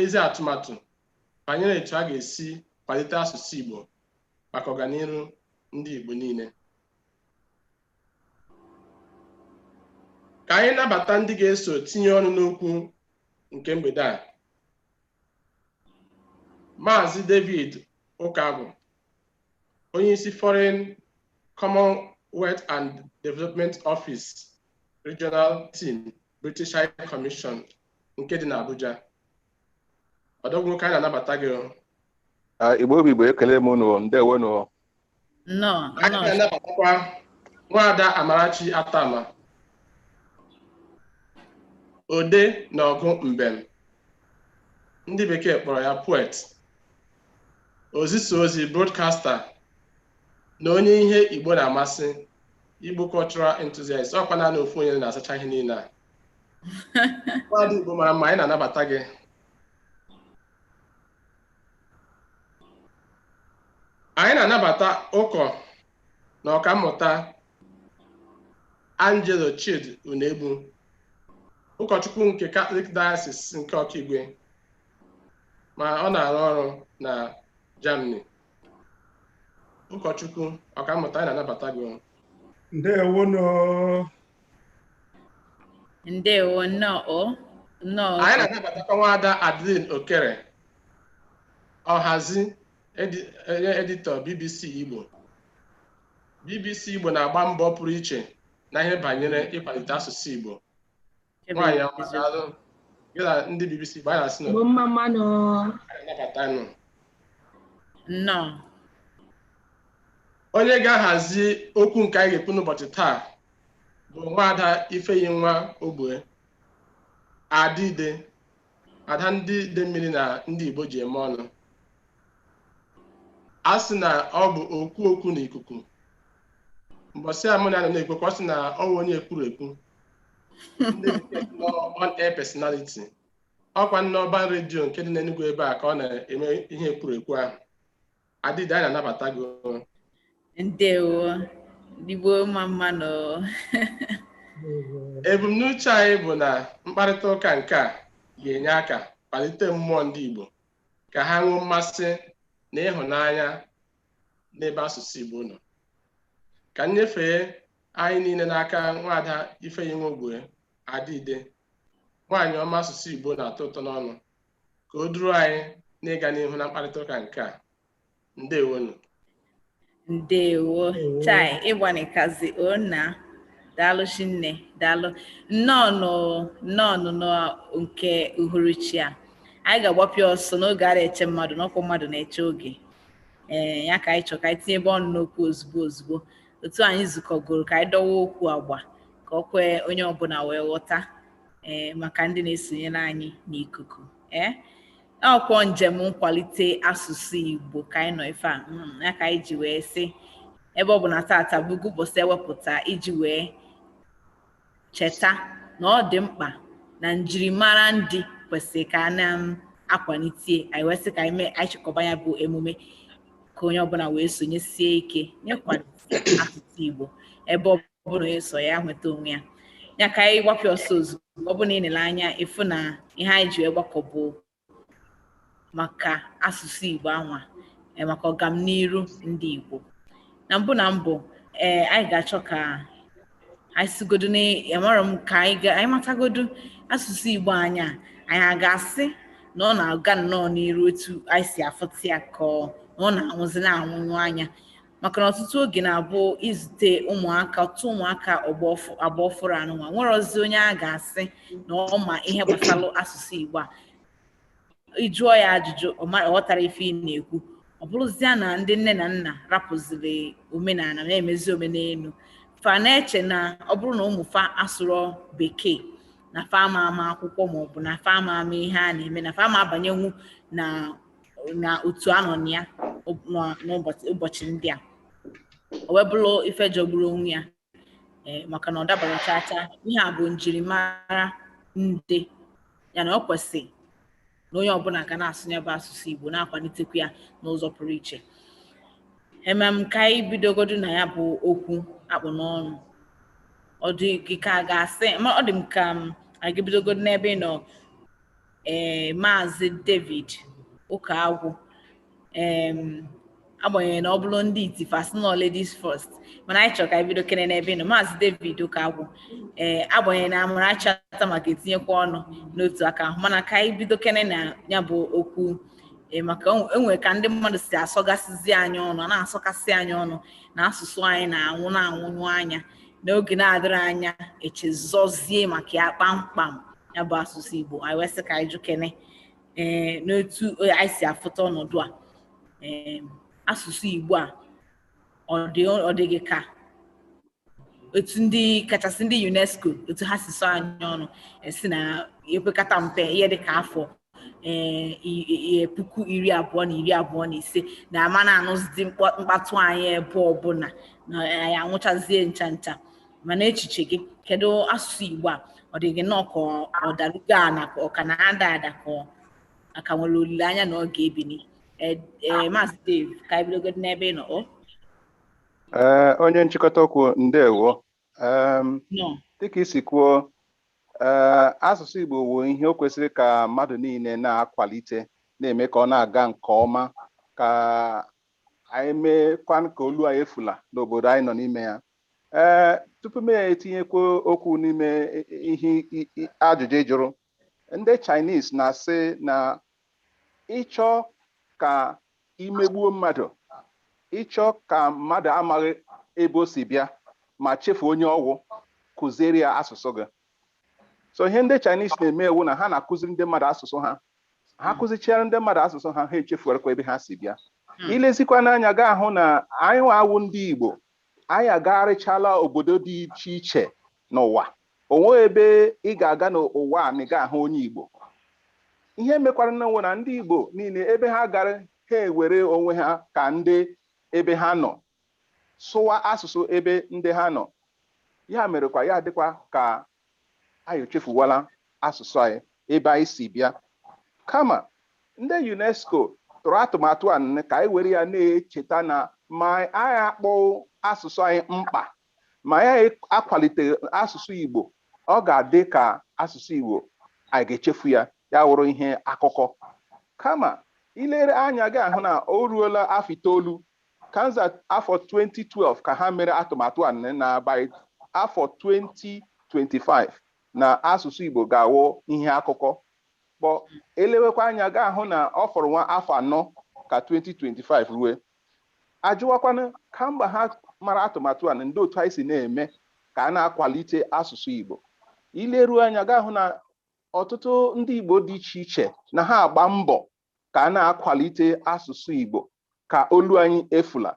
ezi atụmatụ banyere etu a ga-esi kwalite asụsụ Igbo maka ọganiru ndị Igbo niile ka anyị nabata ndị ga-eso tinye ọnụ n'okwu nke mgbede a Maazị David Ukagwu onyeisi Foreign Commonwealth and Development Office Regional Team British High Commission nke dị n'Abuja odogwu nwoke anyị na-anabata gị o. Ah, Igbo bụ Igbo ekele m unu ndewo nụ nnọọ anyị na-anabatakwa nwaada Amarachi Attamah odee na ọgụ mbem ndị bekee kpọrọ ya poet ozisa ozi broadcaster na onye ihe Igbo na-amasị Igbo cultural enthusiast ọ kwa naanị ofu onye na-asacha ihe niile a Nwaada Igbo mara mma anyị na-anabata gị anyị na-anabata ụkọ na ọkammụta Angelo Chidi Unegbu ụkọchukwu nke Catholic Diocese nke Ọkigwe ma ọ na-arụ ọrụ na Germany ụkọchukwu ọkammụta anyị na-anabata gị o. ndewo nụ Ndewo nnọọ nnọọ anyị na-anabatakwa nwaada Adline Okere ọhazi edi- editor BBC Igbo BBC Igbo na-agba mbọ pụrụ iche na ihe banyere ịkwalite asụsụ Igbo nwaanyị ọma daalụ gị na ndị BBC Igbo anyị na-asị nnọọ Igbo mma mma nụ. anyị nabata nụ Nnọọ. onye ga-ahazi okwu nke anyị ga-ekwu n'ụbọchị taa bụ nwaada Ifeyinwa Ogbue Ada Ide ada ndị Idemmiri na ndị Igbo ji eme ọnụ a sị na ọ bụ okwu okwu n'ikuku mbọsị a mụ na ya nọ na-ekwu okwu ọ sị na ọ bụ onye ekwuru ekwu ndị bekee sị na on air personality ọ kwa n'Urban Radio nke dị n'Enugu ebe a ka ọ na-eme ihe ekwuru ekwu ahụ Ada Ide anyị na-anabata gị o. ndewo ndị Igbo mma mma nụ ebumnuche anyị bụ na mkparịta ụka nke a ga-enye aka kpalite mmụọ ndị Igbo ka ha nwee mmasị na ịhụnanya n'ebe asụsụ Igbo nọ ka m nyefee anyị niile n'aka nwaada Ifeyinwa Ogbue Ada Ide nwaanyị ọma asụsụ Igbo na-atọ ụtọ n'ọnụ ka o duru anyị n'ịga n'ihu na mkparịta ụka nke a ndewonụ ndewo chai ịgbanikazi ona daalụ shinne daalụ nnọọ nnọọ nke uhuruchi a anyị ga-agbapịa ọsọ na oge arị eche mmadụ na ọ kwa mmadụ na-eche oge ee ya ka anyị chọrọ ka anyị tinyebe ọnụ n'okwu ozugbo ozugbo otu anyị zukọgoro ka anyị dọwa okwu agba ka o kwee onye ọbụla wee ghọta ee eh, maka ndị na-esonyere anyị n'ikuku ee eh, ọ kwa njem nkwalite asụsụ Igbo ka anyị nọ ife a hmm, ya ka anyị ji wee sị ebe ọ bụ na taata bụgo ụbọchị e wepụta iji wee cheta na ọ dị mkpa na njirimara ndị kwesịrị ka a na-akwalite um, anyị wee sị ka anyị mee anyị chịkọba ya bụ emume ka onye ọbụla wee sonyesie ike n'ịkwalite asụsụ Igbo ebe ọ ọbụla ọ sọ ya nweta onwe ya ya ka anyị gbapịa ọsọ ozugbo ọ bụrụ na ị nele anya ị fụ na ihe anyị ji wee gbakọ bụ maka asụsụ Igbo anwa e, maka ọgamniru ndị Igbo na mbụ na mbụ ee anyị ga-achọ ka anyị sigodo na-amara m ka anyị matagodo asụsụ Igbo anya anyị a ga-asị na ọ na-aga nnọọ n'iru otu anyị si afụta ya ka ọ na-anwụzi na-anwụnyụ anya maka na ọtụtụ oge na-abụ i zute ụmụaka ọtụtụ ụmụaka agba ọfụrụ anụnwa enwerọzi onye a ga-asị na ọ ma ihe gbasara asụsụ Igbo a ị jụọ ya ajụjụ ọ ghọtarọ ife ị na-ekwu ọ bụrụzia na ndị nne na nna rapụziri omenala na-emezi omenelu fa na-eche na ọ bụrụ na ụmụ fa asụrọ bekee na fa ama ama akwụkwọ maọbụ na fa ama ama ihe a na-eme na fa ama abanyenwu na na otu a nọ na ya n'ụbọchị ndị a o wee bụrụ ife jọgburu onwe ya eh, maka na ọ dabarọ chaa chaa ihe a bụ njirimara ndị ya na o kwesị na onye ọbụla ga na-asụ ya bụ asụsụ Igbo na-akwalitekwa ya n'ụzọ pụrụ iche emem ka anyị bidogodu na ya bụ okwu a kpụ n'ọnụ ọ dị gị ka a ga-asị ọ dị m ka a ga-ebidogodu n'ebe ị nọ ee eh, maazị David Ụkagwụ agbanyeghị na ọ bụrụ ndị iti fa sị na ọ ladies first mana anyị chọrọ ka anyị bidokene n'ebe ị nọ maazị David Ụkagwụ ee eh, agbanyeghị na Amarachi Attamah ga-etinyekwa ọnụ n'otu aka ahụ mana ka anyị bidokene na ya bụ okwu eh, maka e nwere ka ndị mmadụ si asọgasịzi anyị ọnụ na-asọgasị anyị ọnụ na asụsụ anyị na-anwụ na-anwụnyụ anya n'oge na-adịrị anya e chezọzie maka ya kpamkpam ya bụ asụsụ Igbo anyị wee sị ka anyị jụkene ee eh, n'otu eh, anyị si afụta ọnọdụ a ee eh, asụsụ Igbo a ọ dị gị ka otu ndị kachasị ndị UNESCO otu ha si sọ anyị ọnụ wee sị na ekwekata mpe ihe dị ka afọ ee puku iri abụọ na iri abụọ na ise na a ma na-anụzidi mkpatụ anyị ebe ọbụla na anyị anwụchazie ncha ncha mana echiche gị kedu asụsụ Igbo a ọ dị gị nnọọ ka ọ darugo ana ka ọ ka na-ada ada ka a ka nwere olileanya na ọ ga-ebini maazị Dave ka anyị bidogodu n'ebe ị nọ o ee onye nchịkọta okwu ndewo Em, dịka i si kwuo ee asụsụ Igbo wụ ihe o kwesịrị ka mmadụ niile na-akwalite na-eme ka ọ na-aga nke ọma ka anyị meekwanụ ka olu anyị efula n'obodo anyị nọ n'ime ya ee tupu m etinyekwuo okwu n'ime i- i- ihe i- i- ajụjụ ị jụrụ Ndị Chinese na-asị na ị chọọ ka i megbuo mmadụ ị chọọ ka mmadụ amaghị ebe o si bịa ma chefu onye ọ wụ kụziere ya asụsụ gị so ihe ndị Chinese na-eme wụ na ha na-akụziri ndị mmadụ asụsụ ha ha kụzichiara ndị mmadụ asụsụ ha ha echefuarakwa ebe ha si bịa hmm. i lezikwanụ anya ị ga-ahụ na anyịwa wụ ndị Igbo anyị agagharịchala obodo dị iche iche N'ụwa, o nweghị ebe ị ga-aga n'ụwa a na ị gaghị ahụ onye Igbo. Ihe mekwaranụ wụ na ndị Igbo niile ebe ha gara ha ewere onwe ha ka ndị ebe ha nọ, sụwa asụsụ ebe ndị ha nọ. Ya merekwa ya adịkwa ka anyị echefuwala asụsụ anyị, ebe anyị si bịa. Kama, ndị UNESCO tụrụ atụmatụ a ka anyị were ya na-echeta na ma anyị akpọghị asụsụ anyị mkpa ma ya akwaliteghị asụsụ Igbo, ọ ga-adị ka asụsụ Igbo anyị ga-echefu ya, ya wụrụ ihe akụkọ. Kama, i lere anya gị ahụ na o ruola afọ itoolu, kanza afọ 2012 ka ha mere atụmatụ a na by afọ 2025 na asụsụ Igbo ga-awụ ihe akụkọ. But e lewekwa anya a ga-ahụ na ọ fọrọ nwa afọ anọ ka 2025 rue, a jụwakwanụ kamgbe ha mara atụmatụ a ndee otu anyị si na-eme ka a na-akwalite asụsụ Igbo i leruo anya ị ga-ahụ na ọtụtụ ndị Igbo dị iche iche na ha agba mbọ ka a na-akwalite asụsụ Igbo ka olu anyị efula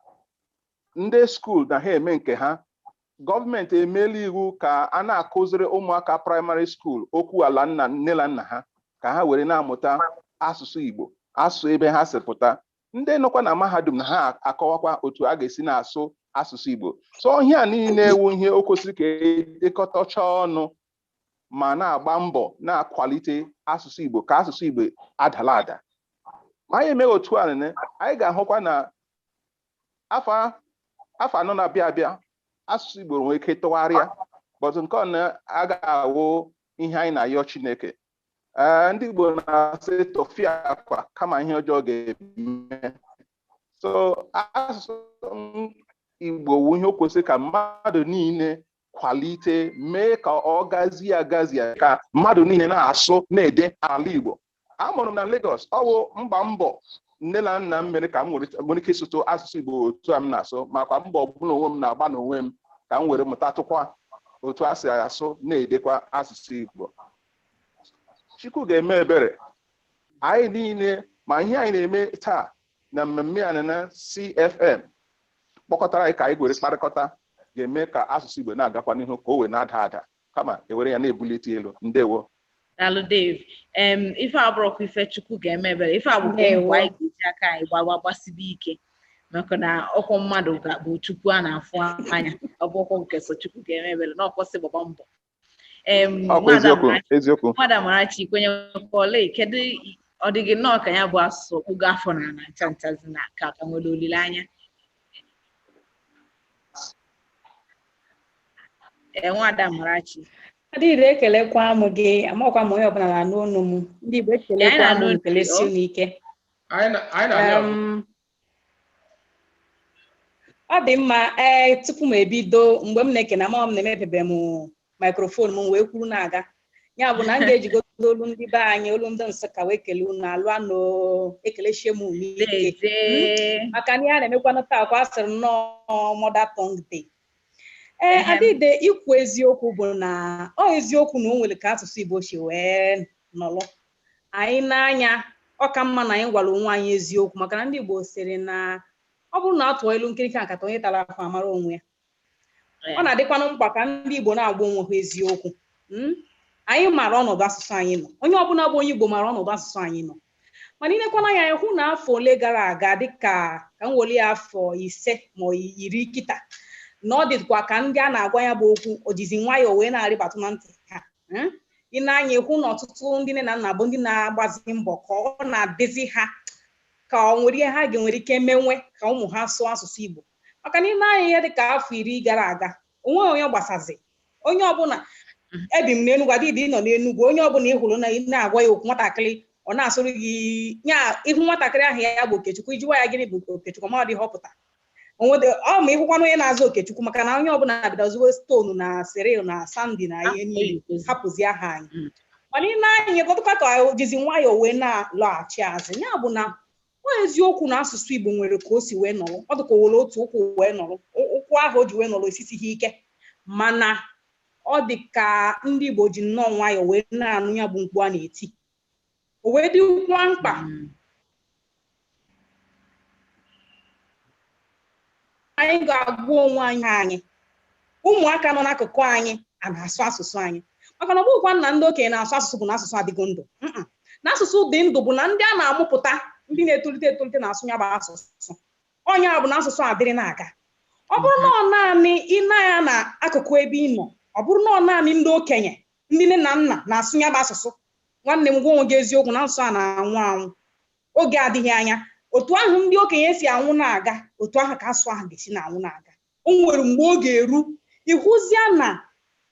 ndị skuul na ha eme nke ha gọọmenti emeela iwu ka a na-akụziri ụmụaka praịmarị skuul okwu ala nne na nna ha ka ha were na-amụta asụsụ Igbo asụsụ ebe ha si pụta ndị nọkwa na mahadum na ha akọwakwa otu a ga-esi na-asụ asụsụ Igbo so ihe a niile wụ ihe o kwesịrị ka e dekọtacha ọnụ ma na-agba mbọ na-akwalite asụsụ Igbo ka asụsụ Igbo adala ada ma anyị emeghị otu a anyị ga-ahụkwa na afọ anọ na-abịa abịa asụsụ Igbo nwere ike tụgharịa but nke ọ na-aga awụ ihe anyị na-ayọ Chineke ee ndị Igbo na-asị tufiakwa kama ihe ọjọọ ga-eme so asụsụ m- Igbo wu ihe o kwesịrị ka mmadụ niile kwalite mee ka ọ gazie agazie ka mmadụ niile na-asụ na-ede ala Igbo a mụrụ m na Lagos ọ bụ mgba mbọ nne na nna m mere ka m nwere nwere ike ịsụtụ asụsụ Igbo otu a m na-asụ makwa mbọ ọbụla onwe m na-agba n'onwe m ka m were mụtatụkwa otu e si asụ na-edekwa asụsụ Igbo Chukwu ga-eme ebere anyị niile ma ihe anyị na-eme taa na mmemme a na CFM kpọkọtara anyị ka anyị were kparịkọta ga-eme ka asụsụ Igbo na-agakwa n'ihu ka o wee na-ada ada kama e were ya na-ebulite elu ndewo daalụ Dave em ife a abụrọkwa ife Chukwu ga-eme ebere ife a bụkwa mbọ anyị ga-eji aka anyị gbawa gbasibe ike maka na ọ kwa mmadụ bụ Chukwu a na-afụ anya ọ bụrọkwa nke sọ Chukwu ga-eme ebere na ọkwọsị gbagba mbọ nwada Amarachi kwenyekwala kedu ọ dị gị nnọọ ka ya bụ asụsụ o kpugo afọ n'ana ncha nchazi na ka a ka nwere olileanya ee nwada Amarachi Adịdị ekelekwa m gị makwa onye ọbụla na-anụ onu m ndị Igbo ekelekwa m kelesi unu ike ọ dị mma ee tupu m ebido mgbe m na-ekene ama m na emepebe m maikrofon m wee kwuru na-aga ya bụ na m ga-ejigodo olu ndị be anyị olu ndị Nsụka wee kele unu alụa nụ ekelechie m unu ike Dede. maka na ihe a na-emekwanụ taa kwa a sịrị na ọ mother tongue day ee Ehem. Adịdị ikwu eziokwu bụ na ọ eziokwu na o nwere ka asụsụ Igbo si wee nọrọ anyị n'anya ọ ka mma na anyị gwara onwe anyị eziokwu maka na ndị Igbo sịrị na ọ bụrụ na a tụọ ilu nkirika nkata onye tara ahụ amara onwe ya ọ na-adịkwanụ mkpa ka ndị Igbo na-agwa onwe ha eziokwu mm? anyị maara ọnọdụ asụsụ anyị nọ onye ọbụla bụ onye Igbo maara ọnọdụ asụsụ anyị nọ mana i lekwa anya hụ na afọ ole gara aga dịka ka m weli afọ ise ma iri kịta na ọ dịkwa ka ndị a na-agwa ya bụ okwu o jizi nwayọọ wee na-arịbatụ na ntị ha Hmm? i nee anya ị hụ na ọtụtụ ndị nne na nna bụ ndị na-agbazi mbọ ka ọ na-adịzi ha ka o nwere ihe ha ga-enwere ike mewe ka ụmụ ha sụọ asụsụ Igbo maka na i nee anya ihe dị ka afọ iri gara aga o nweghị onye gbasazi onye ọbụla mhm. ebi m n'Enugwu Adịdị nọ n'Enugwu onye ọbụla ị hụrụ na ị na-agwa ya okwu nwatakịrị ọ na-asụrụ gị ya ị hụ nwatakịrị aha ya bụ Okechukwu ị jụwa ya gịnị bụ Okechukwu ọ madị ihe ọ pụta onwede ọ ma ịhụkwana onye na-aza okechukwu maka na onye ọbụla bidoziwe stonu na cyril na sandy na ihe niile hapụzi aha anyị Mm. mana ị nee anya ọ dịkwa ka o jizi nwayọọ wee na-alọghachi azụ ya bụ na ọ eziokwu na asụsụ igbo nwere ka o si wee nọrọ ọ dịka o were otu ụkwụ wee nọrọ Ụ- ụkwụ ahụ o ji wee nọrọ esisighị ike mana ọ dị ka ndị igbo ji nnọọ nwayọọ wee na-anụ ya bụ mkpu a na-eti o wee dịkwa mkpa anyị ga-agwa onwe anyị ụmụaka nọ n'akụkụ anyị a na-asụ asụsụ anyị maka na ọ bụghịkwa na ndị okenye na-asụ asụsụ bụ na asụsụ adịgo ndụ Mm-mm. na asụsụ dị ndụ bụ na ndị a na-amụpụta ndị na-etolite etolite na-asụ ya bụ asụsụ ọ ya bụ na asụsụ adịrị na-aga ọ bụrụ na ọ naanị ị nee anya n'akụkụ ebe ị nọ ọ bụrụ na ọ naanị ndị okenye ndị nne na nna na-asụ ya bụ asụsụ nwanne m gwa onwe gị eziokwu na asụsụ a na-anwụ anwụ oge adịghị anya otu ahụ ndị okenye si anwụ na-aga otu ahụ ka asụsụ ahụ ga-esi na-anwụ na-aga o nwere mgbe ọ ga-eru ịhụzia na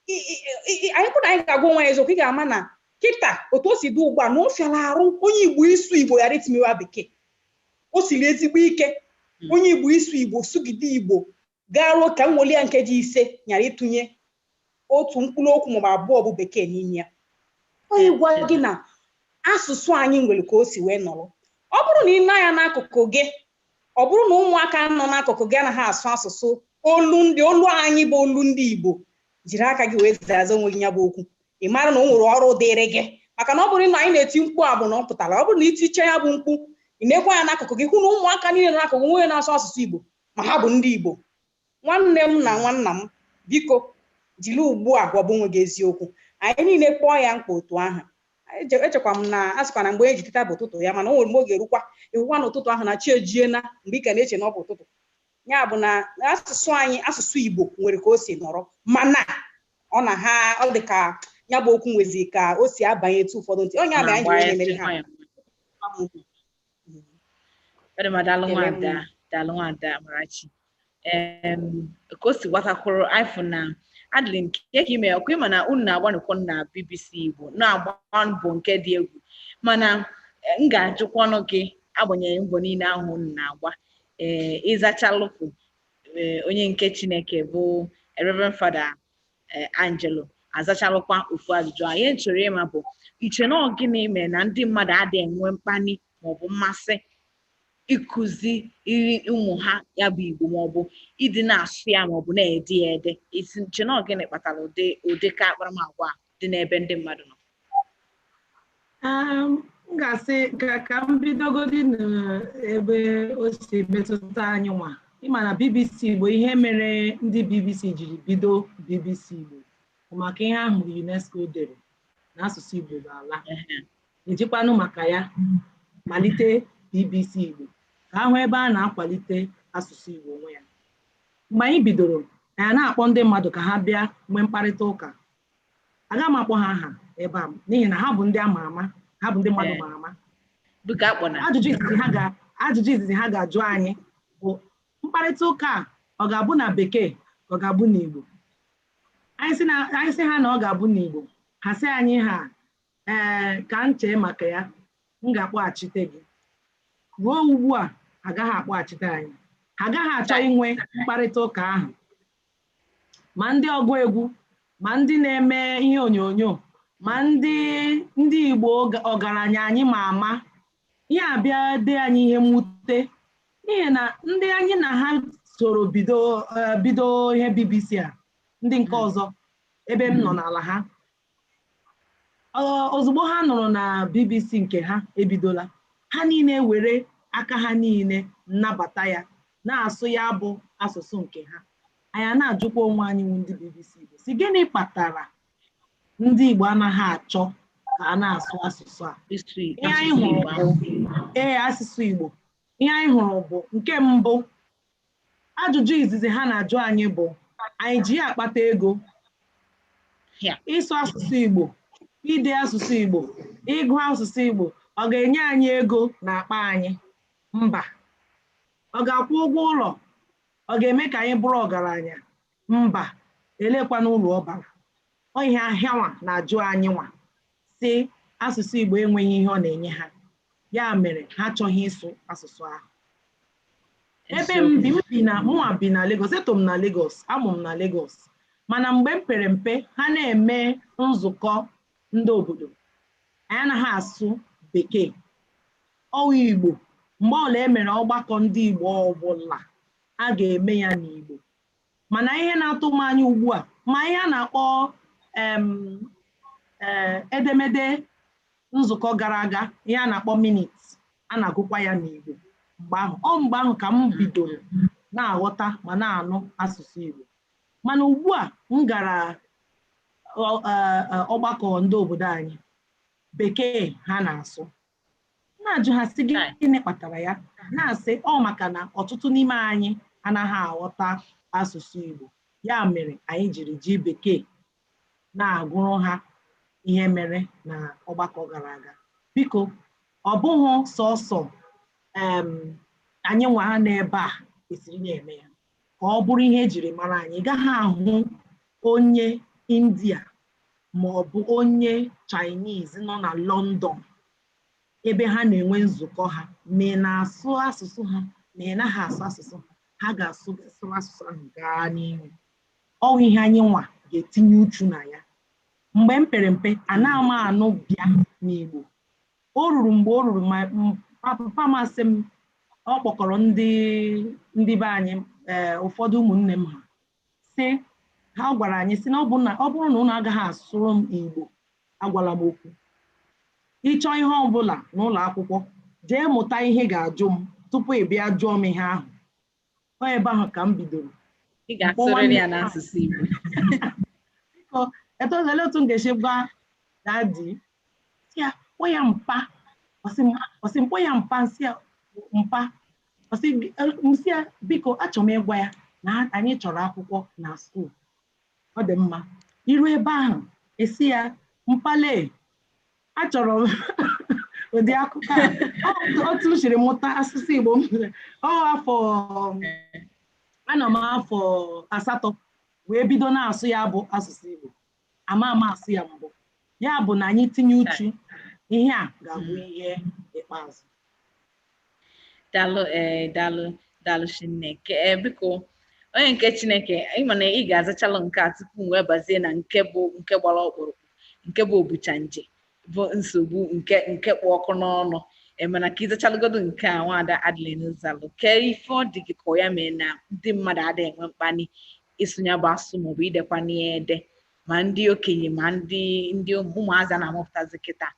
i- i- i- i- anyị kwụ na anyị ga-agwa onwe anyị eziokwu ị ga-ama na kịta otu o si dị ugbu a na ọ fịara arụ onye igbo ịsụ igbo ghara itinyewa bekee o siri ezigbo ike onye igbo ịsụ igbo sụgide igbo Garuo ka o weli ya nkeji ise ghara ịtụnye otu mkpụrụ okwu maọbụ abụọ bụ Bekee n'ime ya. Ọ ya ịgwa gị na asụsụ anyị nwere ka o si wee nọrọ. Ọ bụrụ na ị nee anya n'akụkụ gị, ọ bụrụ na ụmụaka nọ n'akụkụ gị anaghị asụ asụsụ olu ndị, olu anyị bụ olu ndị Igbo, jiri aka gị wee zaza onwe gị ya bụ okwu. Ị mara na o nwere ọrụ dịịrị gị. Maka na ọ bụrụ na anyị na-eti mkpu a bụ na ọ pụtara. Ọ bụrụ na i tichaa ya bụ mkpu, ị neekwa anya n'akụkụ gị hụ na ụmụaka niile nọ n'akụkụ gị, o nweghị onye na-asụ asụsụ Igbo. ma ha bụ ndị Igbo nwanne m na nwanna m biko jiri ugbu a gwaba onwe gị eziokwu anyị niile kpọọ ya mkpa otu ahụ echekwa m na a sịkwa na mgbe e ji teta bụ ụtụtụ ya mana o nwere mgbe ọ ga-erukwa ịhụkwa na ụtụtụ ahụ na chi ejiena mgbe ị ka na-eche na ọ bụ ụtụtụ ya bụ na asụsụ anyị asụsụ Igbo nwere ka o si nọrọ mana ọ na ha ọ dị ka ya bụ okwu nwezi ka o si abanyetụ ụfọdụ ntị onye ama anyị nwere mere ha ọ dị mma daalụ nwada daalụ nwada Amarachi ka o si gbatakwụrụ ifụ na adịrị nke ka ime ọkụ ịma na unu na-agbanụkọ na BBC Igbo na-agba mbọ nke dị egwu mana e, m ga-ajụkwanụ gị agbanyeghị mbọ niile ahụ unu na-agba ee ịzachalụkwa e, onye nke Chineke bụ Reverend Father eh, Angelo azachalụkwa ofu ajụjụ a ihe m chọrọ ịma bụ i che na ọ gịnị mere na ndị mmadụ adịghị enwe mkpali maọbụ mmasị ịkụziri ụmụ ha ya bụ Igbo maọbụ ịdị na-asụ ya maọbụ na-ede ya ede i che na ọ gịnị kpatara ụdị ụdị ka akparamagwa a dị n'ebe ndị mmadụ nọ Um, m ga-asị ka ka m bidogodi n'ebe o si metụta anyị nwa ị ma na BBC Igbo ihe mere ndị BBC jiri bido BBC Igbo bụ maka ihe ahụ UNESCO dere na asụsụ Igbo ga-ala ejikwanụ maka ya malite BBC Igbo ka a hụ ebe a na-akwalite asụsụ Igbo onwe ya mgbe anyị bidoro anyị na-akpọ ndị mmadụ ka ha bịa nwee mkparịta ụka aga m akpọ ha aha ebe a n'ihi na ha bụ ndị ama ama ha bụ ndị mmadụ ma ama ajụjụ izizi ha ga-ajụ anyị bụ mkparịta ụka a ọ ga-abụ na bekee ka ọ ga-abụ n'Igbo anyị sị ha na ọ ga-abụ n'Igbo ha sị anyị ha ee ka m chee maka ya m ga-akpọghachite gị ruo ugbu a agaghị akpọghachite anyị ha agaghị achọ inwe mkparịta ụka ahụ ma ndị ọgụ egwu ma ndị na-eme ihe onyonyo ma ndị ndị Igbo ọgaranya anyị ma ama ihe a bịa dị anyị ihe mwute n'ihi na ndị anyị na ha soro bido eh, bido ihe BBC a ndị nke hmm. ọzọ ebe m nọ hmm. n'ala ha ozugbo ha nụrụ na BBC nke ha ebidola ha niile were aka ha niile nabata ya na-asụ ya bụ asụsụ nke ha anyị a na-ajụkwa onwe anyị wụ ndị BBC Igbo sị gịnị kpatara ndị Igbo anaghị achọ ka a na-asụ asụsụ a ee asụsụ Igbo ihe anyị hụrụ bụ nke mbụ Ajụjụ izizi ha na-ajụ anyị bụ anyị ji ya akpata ego, ịsụ asụsụ Igbo, ide asụsụ Igbo, ịgụ asụsụ Igbo, ọ ga-enye anyị ego n'akpa anyị? Mba. Ọ ga-akwụ ụgwọ ụlọ? Ọ ga-eme ka anyị bụrụ ọgaranya? Mba, eleekwanụ uru ọ bara? Ọ ihe ahụ hanwa na-ajụ anyịnwa sị asụsụ Igbo enweghị ihe ọ na-enye ha, ya mere ha achọghị ịsụ asụsụ ahụ. Ebe m bi, m bi na mụnwa bi na Legọs, eto m na Legọs, a mụ m na Legọs. Mana mgbe m pere mpe, ha na-eme nzukọ ndị obodo, anyị anaghị asụ Bekee, ọ wụ Igbo. Mgbe ọbụla e mere ọgbakọ ndị Igbo ọbụla, a ga-eme ya n'Igbo. mana ihe na-atụ m anya ugbu a ma ihe a na-akpọ em eh, edemede nzukọ gara aga ihe a na-akpọ minutes a na-agụkwa ya n'Igbo mgbe ahụ ọ mgbe ahụ ka m bidoro na-aghọta ma na-anụ asụsụ Igbo mana ugbu a m gara ọ- eh, eh, ọgbakọ ndị obodo anyị bekee ha na-asụ na-ajụ ha sị gịnị kpatara ya na-asị ọ maka na ọtụtụ n'ime anyị anaghị aghọta asụsụ Igbo ya mere anyị jiri ji bekee na-agụrụ ha ihe mere na ọgbakọ gara aga biko ọ bụghị sọsọ anyị nwa ha n'ebe a kwesịrị na-eme ya ka ọ bụrụ ihe e jiri mara anyị ị gaghị ahụ onye india ma ọ bụ onye chinese nọ na london ebe ha na-enwe nzukọ ha ma ị na-asụ asụsụ ha ma ị naghị asụ asụsụ ha ha ga-asụ sụrụ asụsụ ahụ gaa n'ihu ọ wụ ihe anyị nwa ga-etinye uchu na ya mgbe m pere mpe anaghị m anụ bịa n'igbo O ruru mgbe o ruru ma m- pa- papa m asị m ọ kpọkọrọ ndị ndị be anyị ee ụfọdụ ụmụnne m ha sị ha gwara anyị sị na ọ bụ na ọ bụrụ na ụnụ agaghị asụrụ m Igbo agwala m okwu ị chọọ ihe ọ bụla n'ụlọ akwụkwọ jee mụta ihe ị ga-ajụ m tupu ị bịa jụọ m ihe ahụ ọ ebe ahụ ka m bidoro ị ga-asụrịrị ya n'asụsụ Igbo biko elee otu m ga-esi gwa dadi sị ya kpọọ ya mpa ọ sị m ọ sị m kpọọ ya mpa m sị ya mpa ọ sị m sị ya biko achọrọ m ịgwa ya na anyị chọrọ akwụkwọ na skuul ọ dị mma i ruo ebe ahụ ị sị ya mpa lee achọrọ m ụdị akwụkwọ a otu m siri mụta asụsụ Igbo m ọ afọ anọ m afọ asatọ wee bido na-asụ ya bụ asụsụ Igbo amaghị m asụ ya mbụ ya bụ na anyị tinye uchu ihe a ga-abụ ihe ikpeazụ dalụ ee eh, dalụ dalụ chineke ee eh, biko onye nke chineke ị ma na ị ga-azachalụ nke a tupu m wee bazie na nke bụ nke gbara ọkpụrụkpụ nke bụ obucha nje bụ nsogbu nke nke kpụ ọkụ n'ọnụ mana eh, ka ị zachalụgodo nke a nwaada Adeline zalụ kee ife ọ dị gị ka ya mee na ndị mmadụ adịghị enwe mkpali ịsụ nya bụ asụ maọbụ idekwa nya ede ma ndị okenye ma ndị ndị ụmụazị na-amụpụtazi kịta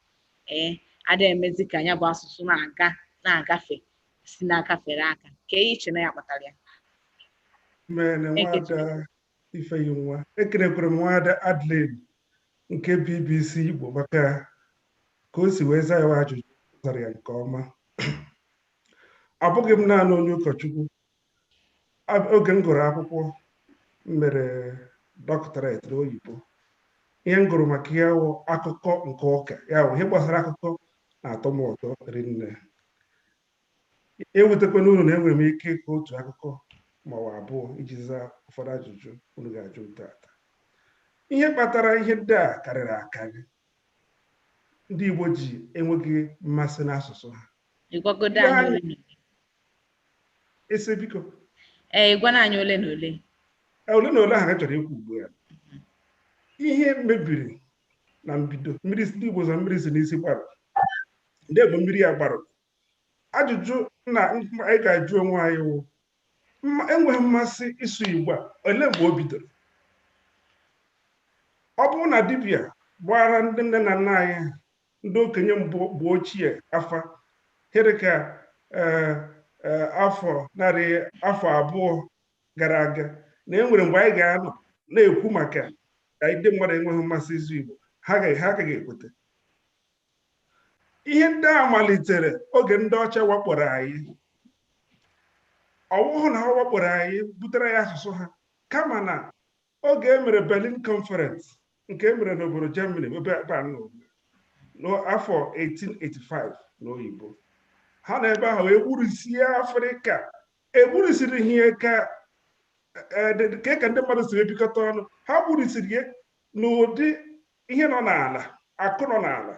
ee ada emezi ka nya bụ asụsụ na-aga na-agafe si n'aka fere aka kee ihe i che na ya kpatara ya mene nwaada ifeyinwa ekenekwara m nwaada adeline nke bbc igbo maka ka o si wee zaa ya ajụjụ zara ya nke ọma abụghị m naanị onye ụkọchukwu oge m gụrụ akwụkwọ m mere doctorate n'oyibo ihe m gụrụ maka ya wụ akụkọ nke ụka ya wụ ihe gbasara akụkọ na-atọ m ụtọ rinne ewutekwana unu na enwere m ike ịkọ otu akụkọ ma ọ bụ abụọ iji zaa ụfọdụ ajụjụ unu ga-ajụ m tata ihe kpatara ihe ndị a karịrị akarị ndị Igbo ji enweghị mmasị n'asụsụ ha ịgwagodo Ndị anyị anyị- unu. ese biko ee ị gwana anyị ole na ole Ee, ole na ole ahụ anyị chọrọ ikwu ugbu a ihe mebiri na mbido mmiri si ndị Igbo sị mmiri si n'isi gbaruo ndị Igbo mmiri ya gbaruo ajụjụ dị mkpa anyị ga-ajụ onwe anyị wụ enweghị mmasị ịsụ Igbo a ole mgbe o bidoro ọ bụrụ na dibịa gbaara ndị nne na nna anyị ndị okenye mgbe ochie afa ihe dị ka eh, eh, afọ narị afọ abụọ gara aga na e nwere mgbe anyị ga-anọ na-ekwu maka ka ndị mmadụ enweghị mmasị ịsụ Igbo ha agaghị ha agaghị ekweta ihe ndị a malitere oge ndị ọcha wakporo anyị ọwụhụ na ha wakporo anyị butere anyị asụsụ ha kama na oge e mere Berlin Conference nke e mere n'obodo Germany ebe ebe a nọ n'afọ 1885 n'oyibo ha nọ ebe ahụ egburusie afrịka egburisighị ya ka eh, dị- dị- ka ka ndị mmadụ si ebikọta ọnụ ha gburisiri ya n'ụdị ihe nọ n'ala akụ nọ n'ala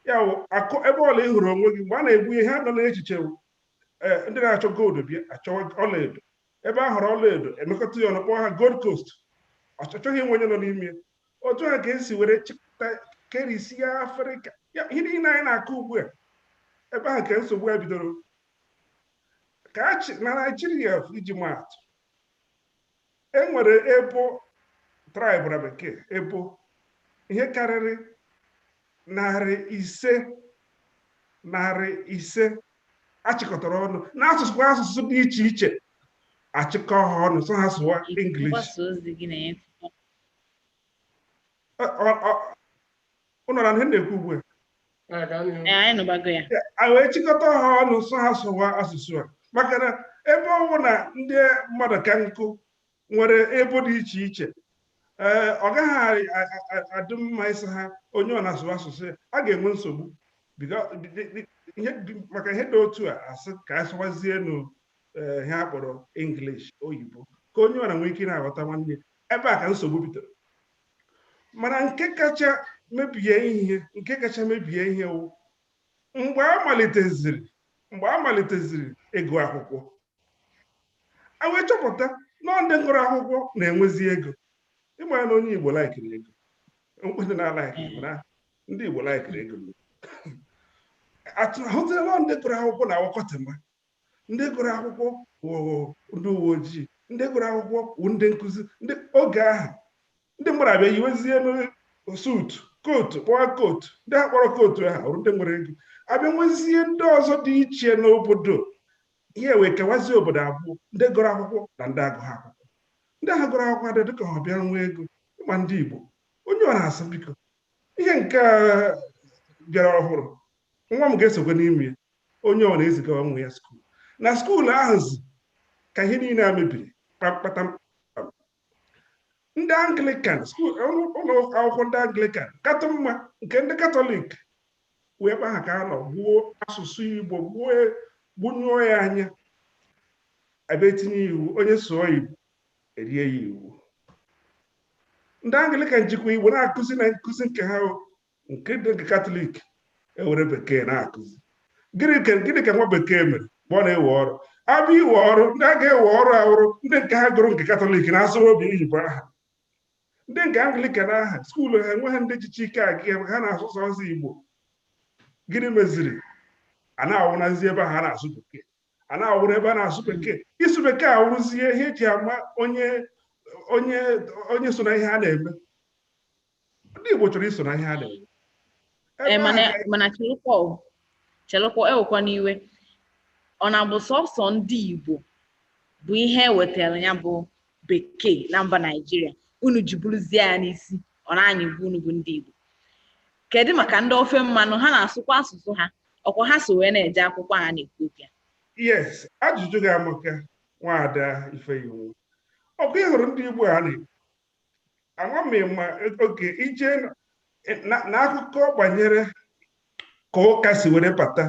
ya wụ akụ ebe ọwụla ị hụrụ onwe gị mgbe a na-egbu ihe ha nọ n'echiche wụ, eh, ndị na-achọ gold bịa achọwa ọlaedo ebe a hụrụ ọlaedo emekọta ya ọnụ kpọọ ha gold coast ọ chọghị ịma onye nọ n'ime ya. otu a ka e si were chịkọta kerisia afrịka Ya, ihe niile anyị na-akọ ugbu a ebe ahụ ka nsogbu a bidoro ka a chị- na naijiria iji maatụ e nwere ebo traịbụ na bekee ebo ihe karịrị Narị ise narị ise achịkọtara ọnụ n'asụsụ asụsụ dị iche iche achịkọ ha ọnụ sị ha sụwa English mgbasa ozi gị na-enye Ọ- ọ- ọ- unu na-anụ ihe m na-ekwu ugbu a Ee, ka anyị Ee, anyị nụbago ya a wee chịkọta ha ọnụ sị ha sụwa asụsụ a maka na ebe ọ bụ na ndị mmadụ ka nkụ nwere ebo dị iche iche ee ọ gaghị adị mma ịsị ha onye ọwụla sụwa asụsụ ya a ga-enwe nsogbu maka ihe dị otu a asị ka a sụwazienụ eh, ihe a kpọrọ English oyibo ka onye ọwụla nwee ike na-aghọta nwanne ebe a ka nsogbu bidoro mana nke kacha mebie ihe nke kacha mebie ihe wụ mgbe a maliteziri mgbe a maliteziri ịgụ akwụkwọ a wee chọpụta na ndị gụrụ akwụkwọ na-enwezi ego ị mara na onye igbo laikiri ego onye na-alaiki na ndị igbo laikiri ego a hụtara na ndị gụrụ akwụkwọ na-awụ kọtịma ndị gụrụ akwụkwọ wụrụ ndị uwe ojii ndị gụrụ akwụkwọ wụ ndị nkụzi ndị oge ahụ ndị mmadụ abịa yiwezie suutu kootu kpọwa kootu ndị a kpọrọ kootu ahụ wụrụ ndị nwere ego abịa nwezie ndị ọzọ dị iche n'obodo ihe wee kewazie obodo abụọ ndị gụrụ akwụkwọ na ndị agụghị akwụkwọ ndị ahụ gụrụ akwụkwọ abịa dịka abịa nwee ego ị ma ndị Igbo onye ọwụna asị biko ihe nke bịara ọhụrụ nwa m ga-esokwa n'ime ya onye ọwụna ezigawa nwa ya skuul na skuul ahụzi ka ihe niile a mebiri kpamkpata ndị anglikan ụlọ akwụkwọ ndị anglikan katụ mma nke ndị katọlik wụ ebe ahụ ka a nọ gbuo asụsụ igbo gbuo gbunyụọ ya anya abịa tinye iwu onye sụọ igbo erie ya iwu ndị anglikan jikwa igbo na-akụzi na nkụzi nke ha nke ndị nke katọlik ewere bekee na-akụzi gịnị ka gịnị ka nwa bekee mere mgbe ọ na-ewe ọrụ abịa iwe ọrụ ndị a ga-ewe ọrụ awụrụ ndị nke ha gụrụ nke katọlik na-asụrụ oyibo aha ndị nke anglikan aha skuulu ha enweghị ndị jizi ike aga ebe ha na-asụ sọsọ igbo gịnị meziri a na-awụnazi ebe ha na-asụ bekee a na-awụrụ ebe a na-asụ bekee ịsụ bekee awụrụzie ihe eji ama onye onye onye so na ihe a na-eme ndị igbo chọrọ iso na ihe a na-eme Ebe mana ahụ ka- mana chelụkwa o, chelụkwa ewekwana iwe ọ na-abụ sọsọ ndị Igbo bụ ihe ewetara ya bụ bekee na mba naijiria unu ji buruzie ya n'isi ọ na anyị bụ unu bụ ndị igbo kedu maka ndị ofe mmanụ ha na-asụkwa asụsụ ha ọkwa ha so wee na-eje akwụkwọ a na-ekwu okwu ya yes ajụjụ gị amaka nwaada ifeyinwa ọkwa ị hụrụ ndị igbo a na-ekwu ama m ma oge ije na akụkọ banyere ka ụka si were bata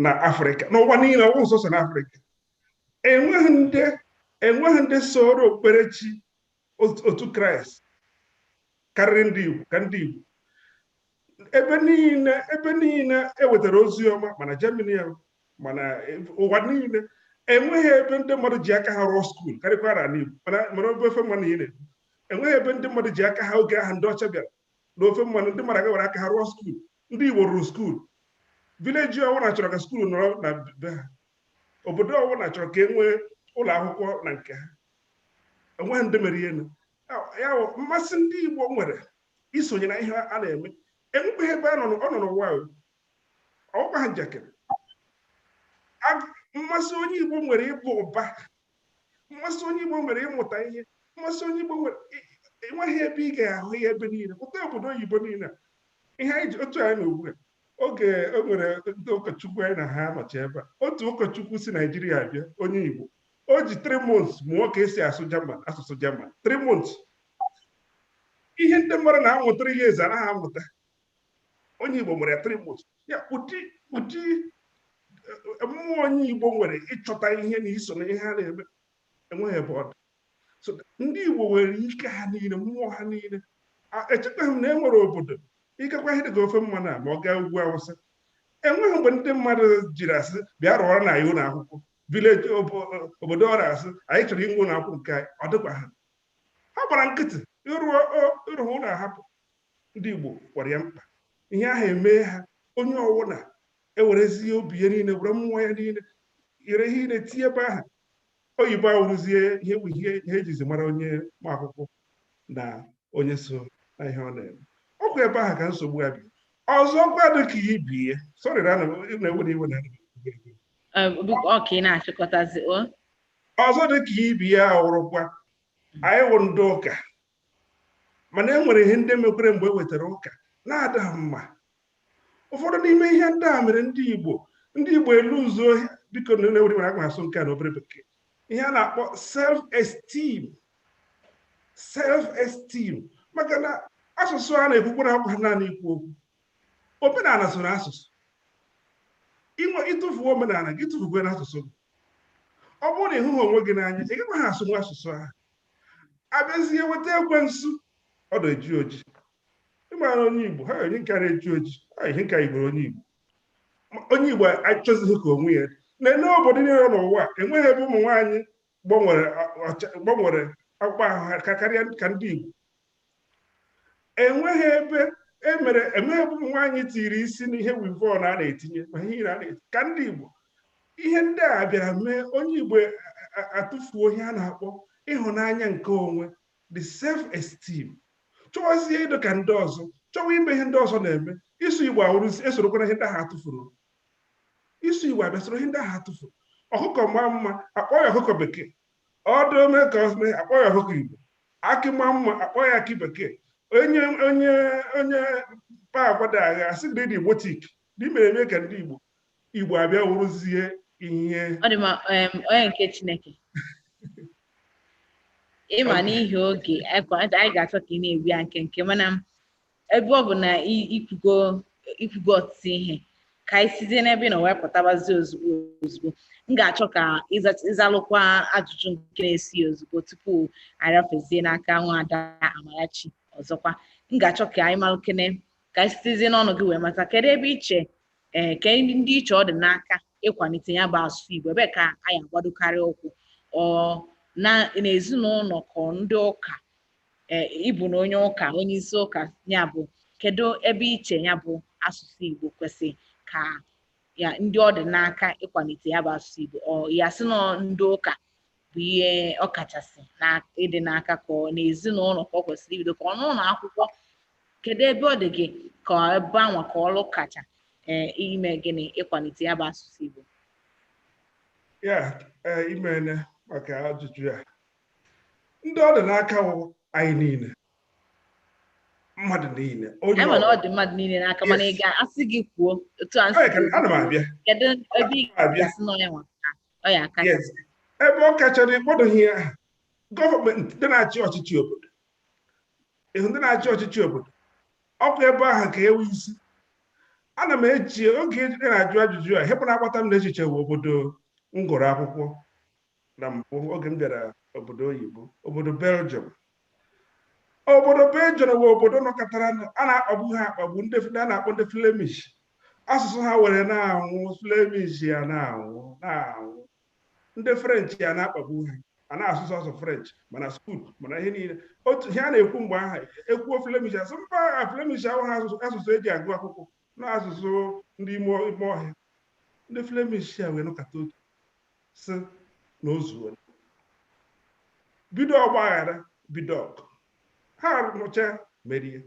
na afrịka n'ụwa niile ọwụ sọsọ na afrịka enweghị ndị enweghị ndị soro okpukperechi otu kraịst karịrị ndị igbo ka ndị igbo ebe niile ebe niile ewetara ozi ọma ma na germany ma na ụwa niile enweghị ebe ndị mmadụ ji aka ha rụọ skuul karịkwara ala igbo ma na obe ofe mmanụ ị na-ekwu enweghị ebe ndị mmadụ ji aka ha oge ahụ ndị ọcha bịara na ofe mmanụ ndị mmadụ agaa were aka ha rụọ skuul ndị igbo rụrụ skuul vileji ọwụna chọrọ ka skuul nọrọ na be ha obodo ọwụna chọrọ ka e nwee ụlọ akwụkwọ na nke ha enweghị ndị mere ihe ya mmasị ndị Igbo nwere isonye na ihe a na-eme enwekweghị ebe ọ nọ n'ụwa ọ wụkwaha njakịrị mmasị onye Igbo nwere ịbụ ụba mmasị onye Igbo nwere ịmụta ihe mmasị onye Igbo nwere enweghị ebe ị ga-ahụ ya ebe niile pụta obodo oyibo niile ihe anyị ji otu anyị na ugbu a oge e nwere ndị ụkọchukwu anyị na ha nọcha ebe a otu ụkọchukwu si naijiria bịa onye igbo o ji three months mụọ ka esi asụ German asụsụ German three months ihe ndị mmadụ na-amụ three years anaghị amụta onye igbo nwere three months ya ụdị ụdị eh, mmụọ onye igbo nwere ịchọta ihe na iso na ihe a na-eme enweghị ebe ọ dị so ndị Igbo nwere ike ha niile mmụọ ha niile echetaghị m na e nwere obodo ị gakwa ihe dịka ofe mmanụ a ma ọ gaa ugwu awụsa enweghị mgbe ndị mmadụ jiri asị bịa rụọrọnụ anyị ụlọ akwụkwọ village obodo ọwụna asị anyị chọrọ inwe ụlọ akwụkwọ nke anyị ọ dịkwa ha ha gbara nkịtị ịrụ ụlọ ahapụ ndị Igbo gwara ya mkpa ihe ahụ emee ha onye ọwụna ewerezie obi ya niile were mmụọ ya niile were ihe niile tinye ebe ahụ oyibo awụrụzie ihe bụ ihe ihe ejizi mara onye ma akwụkwọ na onye so na ihe ọ na-eme ọkwa ebe ahụ ka nsogbu ya bi ọzọkwa dị ka ibe ya sorry na ana m na-ewe iwe na ọka ị na-achịkọtazi o ọzọ dị ka ibe ya wụrụkwa anyị wụ ndị ụka mana e nwere ihe ndị mekwere mgbe e wetara ụka na-ada mma ụfọdụ n'ime ihe ndị a mere ndị Igbo ndị Igbo eluuzuo biko unu ewela iwe aga m asụ nke a na obere bekee ihe a na-akpọ self esteem self esteem maka na asụsụ a na-ekwukwara awụkwa naanị ikwu okwu omenala so na asụsụ inwe ị tụfuo omenala gị tụfukwere asụsụ gị ọ bụrụ na ị hụghị onwe gị n'anya ị gaghị asụnwu asụsụ ahụ abịazie weta ekwensu ọ dị eji oji ịmara onye igbo ha onye nke na-eji oji ihe nke igbo onye igbo onye igbo achọzighị ka onwe ya na-ele obodo niile n'ụwa enweghị ebe ụmụ nwaanyị gbanwere akpụkpọ ahụ ha karịa ka ndị igbo enweghị ebe e nwere enweghị ebe ụmụ nwaanyị tiri isi n'ihe weavon a na-etinye ma ihe ire a na-eti ka ndị Igbo ihe ndị a bịara mee onye Igbo atụfuo ihe a na-akpọ ịhụnanya nke onwe the self esteem chọwazie ịdị ka ndị ọzọ chọwa ime ihe ndị ọzọ na-eme ịsụ Igbo awụrụzi esorokwa na ihe ndị ahụ atụfuru ịsụ Igbo abịa soro ihe ndị ahụ atụfuru ọkụkọ maa mma akpọọ ya ọkụkọ bekee ọdụ ome ka ọsụme akpọ ya ọkụkọ igbo akị maa mma akpọ ya akị bekee onye onye onye kpaa agwa da agha asị gị dị igbotic dị mere eme ka ndị igbo igbo abịa wụrụzie ihe ọ dị ma em, onye nke chineke ịma n'ihi oge anyị anyị ga-achọ ka ị na-ebi ya nkenke mana m ebe ọ bụ na ikwugo ikwugo ọtụtụ ihe ka anyị sizie n'ebe ị nọ wee pụtabazi ozugbo ozugbo m ga-achọ ka ị zalụkwa ajụjụ nke na-esi ozugbo tupu arafezie n'aka nwaada Amarachi ọzọkwa m ga-achọ ka anyị malụkene ka anyị sitezie n'ọnụ gị wee mata kedu ebe i chee eh, ka ndị i che ọ dị n'aka ịkwalite ya bụ asụsụ Igbo ebe ka anyị agbadokarị ụkwụ ọ na n'ezinụlọ ka ndị ụka e, ị bụ na onye ụka onye isi ụka ya bụ kedu ebe i che ya bụ asụsụ Igbo kwesị ka ya ndị ọ dị n'aka ịkwalite ya bụ asụsụ Igbo ọ ya sị na ndị ụka bụ ihe ọ kachasị na ịdị n'aka ka ọ n'ezinụlọ ka ọ kwesịrị ibido ka ọ n'ụlọ akwụkwọ kedu ebe ọ dị gị ka ebe anwa ka ọrụ kacha ee ime gịnị ịkwalite ya bụ asụsụ Igbo ya e, imene maka ajụjụ ya ndị ọ dị n'aka wụ anyị niile mmadụ niile onye anyị ma na ọ dị mmadụ niile n'aka mana ị ga-asị gị kwuo otu a nsị Ee, ka- ana m abịa kedu ebe ị abịa ga-asị na onye nwa ka ọ ya aka yes ebe ọ kachara ị kpọdoghị ya aha gọọmenti ndị na-achị ọchịchị obodo ịhụ ndị na-achị ọchịchị obodo ọkwa ebe ahụ ka ewu isi ana m eji oge ejide na-ajụ ajụjụ a ihe mbụ na-agbata m n'echiche bụ obodo m gụrụ akwụkwọ na mbụ oge m bịara obodo oyibo obodo Belgium obodo Belgium bụ obodo nọkatara a na-akpagbu ha akpagbu ndị a na-akpọ ndị Flemish asụsụ ha were na-anwụ Flemish a na-anwụ na-anwụ ndị French a na-akpagbu ha a na-asụsụ asụ French ma na skuul ma na ihe niile otu ihe a na-ekwu mgbe ahụ e kwuo Flemish asị mba Flemish awụghị asụsụ eji agụ akwụkwọ Na asụsụ ndị ime ime ọhịa, ndị Flemish a wee nọkata otu sị na o zuo. Bido ọgbaghara bido ọgụ. Ha nụcha merie.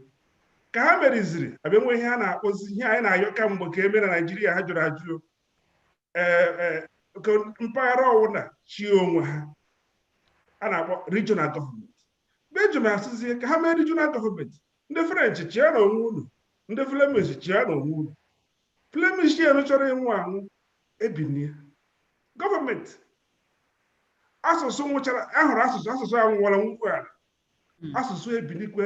Ka ha meriziri, abịa nwee ihe a na-akpọzi ihe anyị na-ayọ kamgbe ka e mee na Naịjirịa ha jụrụ ajụ. e, e, ka mpaghara ọwụna chịa onwe ha a na-akpọ regional gọọmenti belgium asịzie ka ha mee regional gọọmenti ndị french chịanụ onwe unu ndị flemish chịanụ onwe unu flemish enu chọrọ ịnwụ anwụ ebinie gọọmenti asụsụ nwụchara ahụrụ asụsụ asụsụ anwụwara nwụkwu ala hmm. asụsụ ebilikwe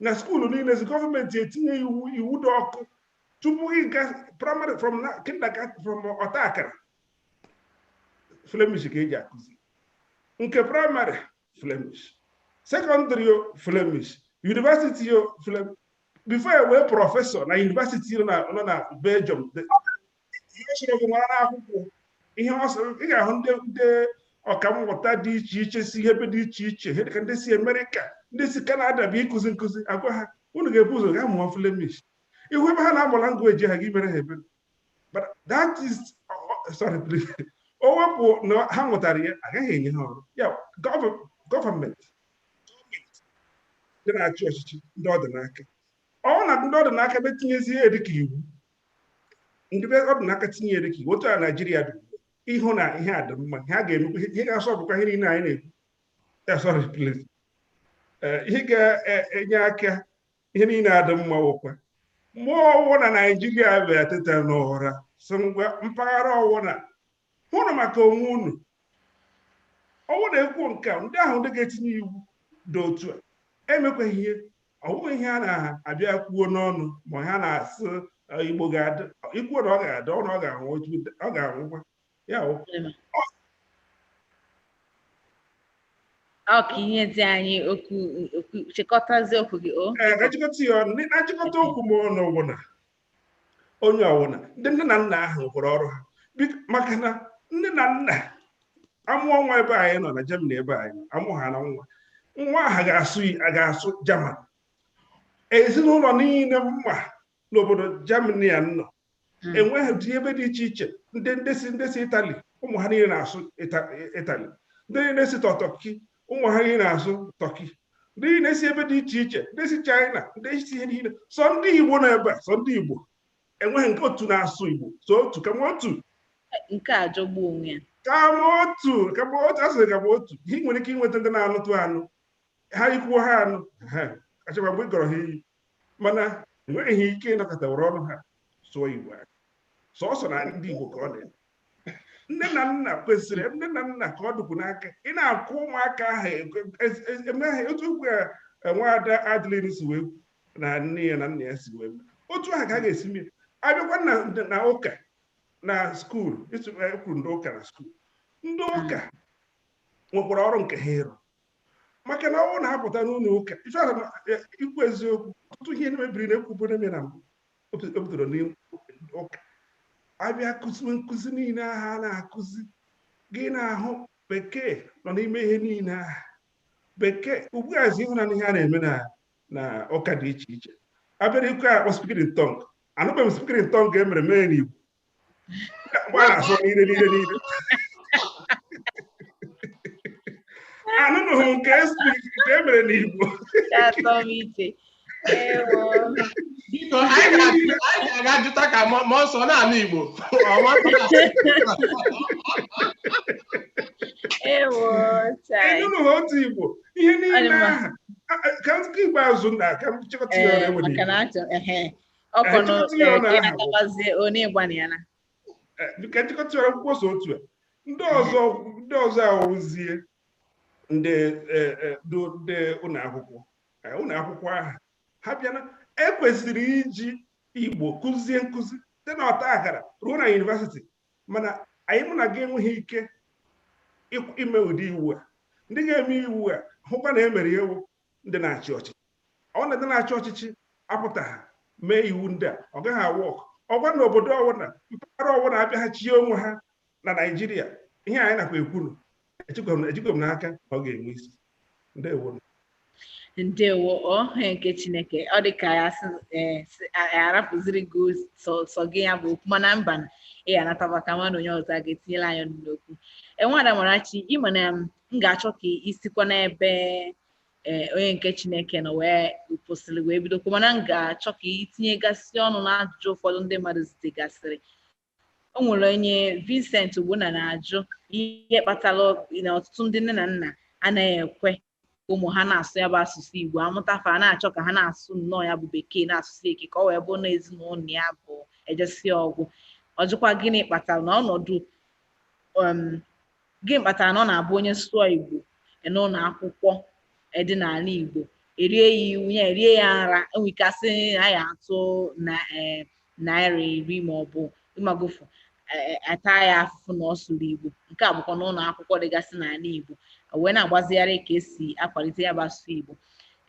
na skuulu niile si gọọmenti etinye iwu iwu dị ọkụ tupu gị ga praịmarị from kindergarten from ọta akara flemish ka eji akụzi nke praịmarị flemish sekọndịrị yo flemish yunivasiti yo flemish bifo e wee prọfesọ na yunivasiti nọ na belgium ihe sọrọ gị nwere n'akwụkwọ ihe ọ sịrị ị ga-ahụ ndị ndị ọkammụta dị iche iche si ihe ebe dị iche iche ihe dịka ndị si Amerịka ndị si Kanada bịa ịkụzi nkụzi a gwa ha unu ga-ebu ụzọ ga mụọ Flemish ị hụ ebe ha na-amụ langweji ahụ gị emere ha ebere but that is sorry please e wepụ na ha mụtara ya agaghị enye ha ọrụ ya gọọmenti ndị na-achị ọchịchị ndị ọ dị n'aka ọ na ndị ọ dị n'aka etinyezie ya dịka iwu ndị ọ dị n'aka tinye ya dịka iwu otu a naijiria dị ị hụ na ihe a dị mma ihe a ga-emekwa ihe ga-asọ bụkwa ihe niile anyị na-ekwu eh, sorry please eh, ihe ga-enye aka ihe niile adị mma wụkwa ma ọ wụ na naijiria bịa teta n'ụra sị ngwa mpaghara ọwụna hụnụ maka onwe unu ọ wụ na e kwuo nke a ndị ahụ ndị ga-etinye iwu dị otu a emekwaghị ihe ọ wụghị ihe a na-abịa kwuo n'ọnụ ma ha na-asị "Ee, igbo ga-adị i kwuo na ọ ga-adị ọ na ọ ga-anwụ otu- ọ ga-anwụkwa ya bụ ọ ka ihe dị anyị okwu okwu chịkọtazie okwu gị o ee ka m chịkọta ya ọnụ na nchịkọta okwu m ọnụ bụ na onye ọwụna ndị nne na nna ahụ rụkwara ọrụ ha maka na nne na nna amụọ nwa ebe anyị nọ na Germany ebe anyị amụ ha na nwa nwa ahụ ga-asụ a ga-asụ German ezinụlọ niile m ma n'obodo Germany a m nọ hmm. e nwere ndị ebe dị iche iche ndị ndị si ndị si Itali ụmụ ha niile na-asụ Itali ndị niile si Tọ Tọki ụmụ ha niile na-asụ tọki ndị niile si ebe dị iche iche ndị si chaịna ndị si ihe niile sọ ndị igbo nọ ebe a sọ ndị igbo enweghị nke otu na-asụ igbo so otu kama otu nke a jọgbu onwe ya kama otu kama otu asịrị kama otu ihe ị nwere ike inweta ndị na-anụtụ anụ ha i kwuo ha anụ ha achọkwa mgbe ị gọrọ ha iyi mana enweghị ike ịnọkata were ọnụ ha sụọ Igbo ahụ sọsọ na ndị Igbo ka ọ dị nne na nna kwesịrị nne na nna ka ọ dịkwu n'aka ị na-akwụ ụmụaka ahụ emeghị otu okwu ya e, nwaada Adeline si mee na nne ya na nna ya si mee otu ahụ ka a ga-esi mee abịakwa na ụka na skuul e kwuru ndị ụka na skuul ndị ụka nwekwara ọrụ nke ha ịrụ maka na ọ wụ na apụta n'ụlọ ụka ife ahụ na- e- ikwu eziokwu ọtụtụ ihe mebiri na ekwuburu na mbụ o bi- o bidoro n'ụka abịa kụziwe nkụzi niile ahụ a na-akụzi gị na-ahụ bekee nọ n'ime ihe niile ahụ bekee ugbuazi ị hụna ihe a na-eme na na ụka dị iche iche abịara nke akpọ speaking in tongue anụbeghị m speaking in tongue e mere mee n'igbo mgbe a na-asụ niile niile niile anụnụghị nke nke e mere n'Igbo biko anyị ga-aga jụta ka mmụọ nsọ na-anụ Igbo ịnụnụghị otu Igbo ihe niile ahụ ka nke ikpeazụ na ka m chịkọta ya ọkwa na Anyị tụtụrụ ya na aha. agabazie onye ịgbana ya na Eh, ka m chịkọta ya akwụkwọ so otu a ndị ọzọ ndị ọzọ awụzie ndị eh, eh, ndị ndị ụlọ akwụkwọ eh, ụlọ akwụkwọ ahụ ha bịana ekwesịrị iji igbo kụzie nkụzi site na ọta akara ruo na university mana anyị mụ na gị enweghị ike ịkw- ime ụdị iwu a ndị ga-eme iwu a hụkwa na emere ya wụ ndị na-achị ọchịchị ọ wụ na ndị na-achị ọchịchị apụtaha mee iwu ndị a ọ gaghị a work ọ wụ na obodo ọwụna mpaghara ọwụna abịaha chie onwe ha na naijiria ihe anyị nakwa ekwuru ejikwa m n'aka ọ ga-enwe isi ndewo ndewo onye nke chineke ọ dị ka ya e, arapụziri gị sọ gị ya bụ okwu mana mba ị ga-anataba ka mmadụ onye ọzọ ga-etinyela anya n'okwu eh nwada Amarachi ịma na m ga-achọ ka i sikwa n'ebe eh, onye nke Chineke nọ wee kwụsịrị wee bidokwa mana m ga-achọ ka itinyegasị ọnụ n'ajụjụ ụfọdụ ndị mmadụ zitegasịrị o nwere onye Vincent Ogbonna na-ajụ ihe kpatara na ọtụtụ ndị nne na nna anaghị ekwe ụmụ ha na-asụ ya bụ asụsụ Igbo amụta fa na-achọ ka ha na-asụ nnọọ ya bụ bekee na-asụsi ike ka ọ wee bụrụ na ezinụlọ ya bụ ejesi ọ gwụ ọ jụkwa gịnị kpatara na ọnọdụ um, Gịnị kpatara na ọ na-abụ onye sụọ Igbo e n'ụlọ akwụkwọ e dị n'ala Igbo erie ya iwu ya erie ya nra enwe ike asị na ya atụ na ee naira iri ma ọ bụ ị magofu ata ya afụfụ na ọ sụrụ Igbo nke a bụkwa n'ụlọ akwụkwọ dịgasị n'ala Igbo wee na-agbazigharị ka esi akwalite ya bụ asụsụ Igbo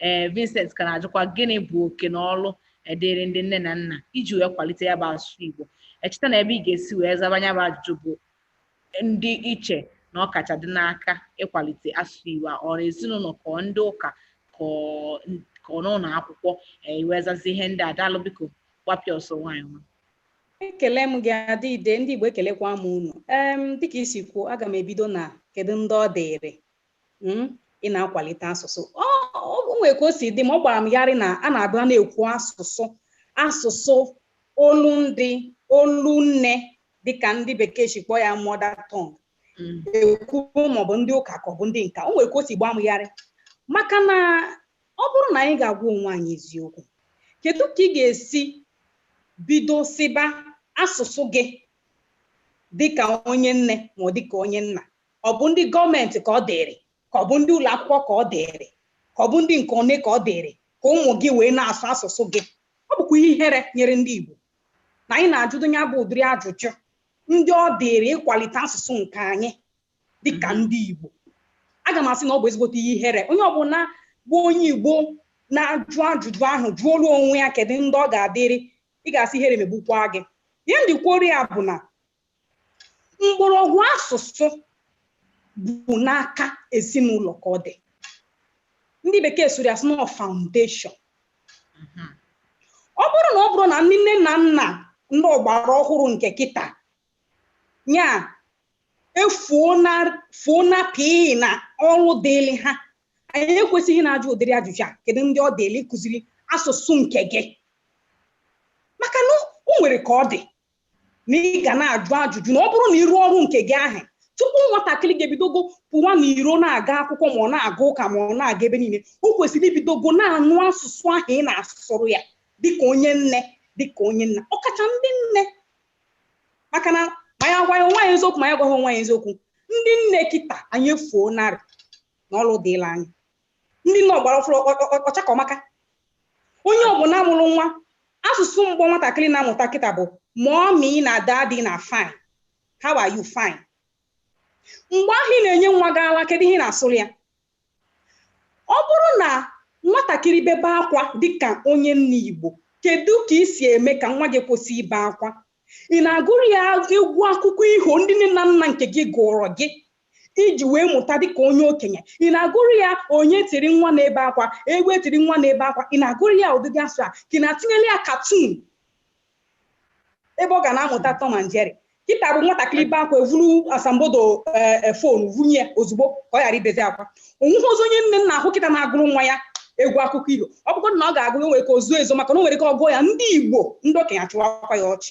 ee Vincent ka na-ajụkwa gịnị bụ oke na ọrụ e dịịrị ndị nne na nna iji wee kwalite ya bụ asụsụ Igbo echeta na ebe ị ga-esi wee zaba ya bụ ajụjụ bụ ndị i che na ọ kacha dị n'aka ịkwalite asụsụ Igbo a ọ bụ ezinụlọ ka ọ ndị ụka ka ọ n'ụlọ akwụkwọ i wee zazie ihe ndị a daalụ biko gbapịa ọsọ nwaanyị nwa ekele m gị adịide ndị Igbo ekelekwa m unu ee dịka i si kwuo aga m ebido na kedu ndị ọ dịrị hmm, ị na-akwalite asụsụ o nwee ka o si dị ma ọ gbara m gharị na a na-abịa na-ekwu asụsụ asụsụ olu ndị olu nne dịka ndị bekee si kpọọ ya mother tongue Mm. ekwu ma ọ bụ ndị ụka ka ọ bụ ndị nka o nwere ka o si gbaa m gharị maka na ọ bụrụ na anyị ga-agwa onwe anyị eziokwu kedu ka ị ga-esi bido sịba asụsụ gị dịka onye nne ma ọ dịka onye nna ọ bụ ndị gọọmenti ka ọ dịrị ka ọ bụ ndị ụlọ akwụkwọ ka ọ dịrị ka ọ bụ ndị nke one ka ọ dịrị ka ụmụ gị wee na-asụ asụsụ gị ọ bụkwa ihe ihere nyere ndị Igbo na anyị na-ajụdụ ya bụ ụdịrị ajụjụ ndị ọ dịrị ịkwalite asụsụ nke anyị dịka mhm. ndị Igbo aga m asị na ọ bụ ezigbote ihe ihere onye ọbụla bụ onye Igbo na-ajụ ajụjụ ahụ jụọrọ onwe ya kedu ndị ọ ga-adịrị ị ga-asị ihere megbukwa gị ihe m ji kwuoro ya bụ na mgbọrọgwụ asụsụ bụ n'aka ezinụlọ ka ọ dị ndị bekee sụrụ ya sị na foundation ọ bụrụ na ọ bụrụ na ndị nne na nna ndị ọgbara ọhụrụ nke kịta ya efuo na fuo na pii n'ọrụ dịịrị ha anyị ekwesịghị na-ajụ ụdịrị ajụjụ a kedu ndị ọ dịịrị ịkụziri asụsụ nke gị maka na o nwere ka ọ dị na ị ga na-ajụ ajụjụ na ọ bụrụ na ị rụọ ọrụ nke gị ahụ tupu nwatakịrị ga-ebidogo pụwa n'iro na-aga akwụkwọ ma ọ na-aga ụka ma ọ na-aga ebe niile o kwesịrị ibidogo na-anụ asụsụ ahụ ị na-asụrụ ya dịka onye nne dịka onye nna ọkacha ndị nne maka na ma anyị gwa onwe anyị eziokwu ma anyị gwa onwe anyị eziokwu ndị nne kịta anyị efuo narị n'ọrụ dịrị anyị ndị nne ọgbara ọfụrụ ọcha ka ọmaka onye ọbụla mụrụ nwa asụsụ mbụ nwatakịrị na-amụta kịta bụ mommy na daddy na fine how are you fine mgbe ahụ ị na-enye nwa gị ala kedu ihe ị na-asụrụ ya ọ bụrụ na nwatakịrị bebe akwa dịka onye nne igbo kedu ka ị si eme ka nwa gị kwụsị ibe akwa ị na-agụrụ ya egwu akụkọ iho ndị nne na nna nke gị gụọrọ gị i ji wee mụta dị ka onye okenye ị na-agụrụ ya onye tiri nwa na-ebe akwa egbe tiri nwa na-ebe akwa ị na-agụrụ ya ụdịdị asụ a ka ị na-atinyere ya cartoon ebe ọ ga na-amụta Tom and Jerry kịta bụ nwatakịrị bee akwa e vuru asambodo phone vunye ya ozugbo ka ọ ghara ibezi akwa onweghịzi onye nne nna ahụ kịta na-agụrụ nwa ya egwu akụkọ iho ọ bụkwa na ọ ga-agụ ya nwere ka o zoo ezo maka na o nwere ka ọ gụọ ya ndị Igbo ndị okenye achịwakwa ya ọchị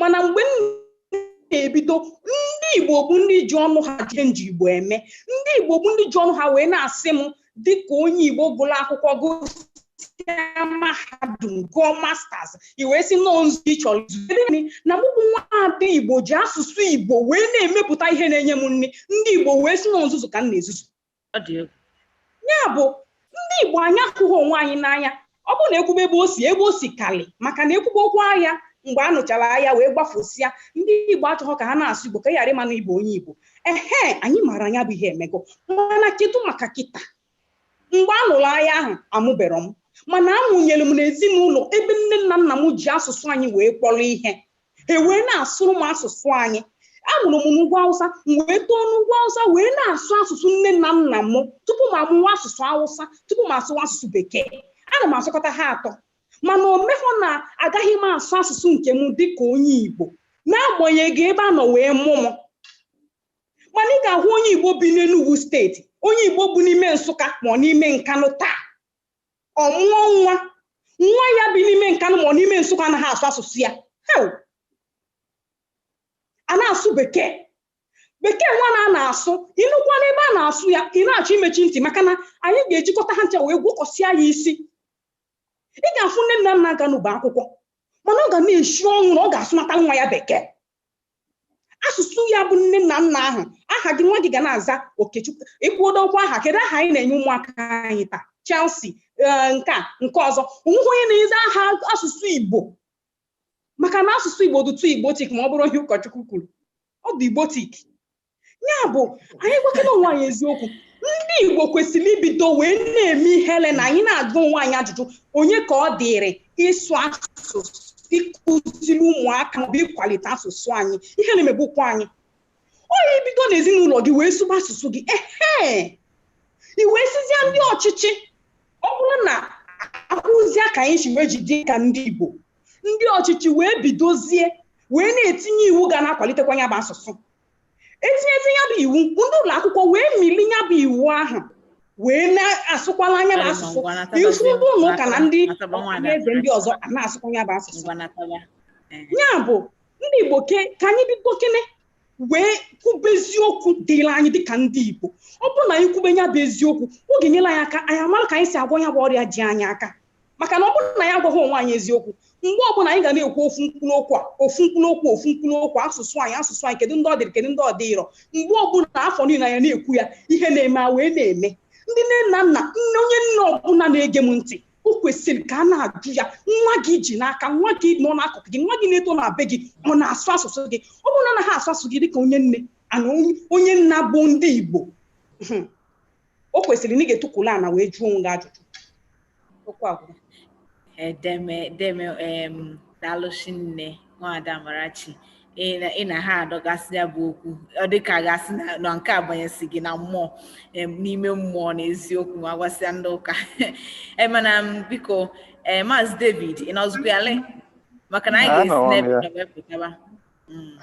mana mgbe m na-ebido ndị igbo bụ ndị ji ọnụ ha jee nji igbo eme ndị igbo bụ ndị ji ọnụ ha wee na-asị m dịka onye igbo gụrụ akwụkwọ gụsịa mahadum gụọ masters i wee sị na ọ nzu ị chọrọ izu na mụ bụ nwa ada igbo ji asụsụ igbo wee na-emepụta ihe na-enye m nri ndị igbo wee sị na ọ nzuzu ka m na-ezuzu ya bụ ndị igbo anyị ahụghị onwe anyị n'anya ọ bụrụ na ekwube ebe o si ebe o si kali maka na ekwube okwu agha mgbe a nụchara agha wee gbafusịa ndị igbo achọghọ ka ha na-asụ igbo ka a ghara ịma na ị bụ onye igbo ehe anyị maara na ya bụ ihe emego mana kedu maka kịta mgbe a nụrụ agha ahụ amụbero m mana amụnyere m n'ezinụlọ ebe nne na nna m ji asụsụ anyị wee kpọrọ ihe ha wee na-asụrụ m asụsụ anyị amụrụ m n'ugwu awụsa m wee too n'ugwu awụsa wee na-asụ asụsụ nne na nna m tupu m amụwa asụsụ awụsa tupu m asụwa asụsụ bekee ana m asụkọta ha atọ mana o mehọ na agaghị m asụ asụsụ nke m dịka onye igbo n'agbanyeghị ebe a nọ wee mụ m mana ị ga-ahụ onye igbo bi n'enugwu steeti onye igbo bi n'ime nsụka ma ọ n'ime nkanụ taa ọ mụọ nwa nwa ya bi n'ime nkanụ ma ọ n'ime nsụka anaghị asụ asụsụ ya hewu a na-asụ bekee bekee nwa na a na-asụ ị nụkwa n'ebe a na-asụ ya ị na-achọ imechi ntị maka na anyị ga-ejikọta ha ncha wee gwọkọsịa ya isi ị ga-afụ nne na nna ganụ bụ akwụkwọ mana ọ ga na-esi ọnwụ na ọ ga-asụnatara nwa ya bekee asụsụ ya bụ nne na nna ahụ aha gị nwa gị ga na-aza okechukwu ikwudo okwu aha kedu aha anyị na-enye ụmụaka anyị taa chelsea eh, nke a nke ọzọ onweghị onye na-aza aha asụsụ igbo maka na asụsụ igbo dụtụ igbotic ma ọ bụrụ ihe ụkọchukwu kwuru ọ dụ igbotic ya bụ anyị gwakene onwe anyị eziokwu ndị igbo kwesịrị ibido wee na-eme ihere na anyị na-ajụ onwe anyị ajụjụ onye ka ọ dịrị ịsụ asụsụ ịkụziri ụmụaka maọbụ ịkwalite asụsụ anyị ihere megbukwa anyị o i bido n'ezinụlọ gị wee sụba asụsụ gị ehe i wee sịzie ndị ọchịchị ọ bụrụ na a hụzie ka anyị si wee jide ka ndị igbo ndị ọchịchị wee bidozie wee na-etinye iwu ga na-akwalitekwa ya bụ asụsụ e tinyezie ya bụ iwu ndị ụlọ akwụkwọ wee mili ya bụ iwu ahụ wee na-asụkwala ya bụ asụsụ ị fụ ndị ụlọ ụka na ndị eze ndị ọzọ a na-asụkwa ya bụ asụsụ ya bụ ndị igbo ka anyị bidokene wee kwube eziokwu dịrị anyị dịka ndị igbo ọ bụrụ na anyị kwube ya bụ eziokwu ọ ga-enyere anyị aka anyị amara ka anyị si agwọ ya bụ ọrịa ji anyị aka maka na ọ bụrụ na anyị agwaghị onwe anyị eziokwu mgbe ọbụla anyị ga na-ekwu ofu mkpụrụ okwu a ofu mkpụrụ okwu ofu mkpụrụ okwu asụsụ anyị asụsụ anyị kedu ndị ọ dịrị kedu ndị ọ dịrọ mgbe ọbụla afọ niile anyị na-ekwu ya ihe na-eme a wee na-eme ndị nne na nna onye nne ọbụla na-ege m ntị o kwesịrị ka a na-ajụ ya nwa gị i ji n'aka nwa gị nọ n'akụkụ gị nwa gị na-eto na be gị ọ na-asụ asụsụ gị ọ bụrụ na ọ naghị asụ asụsụ gị dịka onye nne na onye nna bụ ndị Igbo o kwesịrị na ị ga-etukwulu ana wee jụọ onwe gị ajụjụ okwu agwụla deeme deeme em daalụ shinne nwada amarachi ị na- ị na ha adọgasị ya bụ okwu ọ dị ka a ga-asị na na nke a banyesi gị na mmụọ em, n'ime mmụọ na eziokwu ma gwasịa ndị ụka Eh, mana m, biko eh, maazị david ị nọzịkwa ya le maka na anyị Anọwo m ga-esi ya. n'ebe pụtaba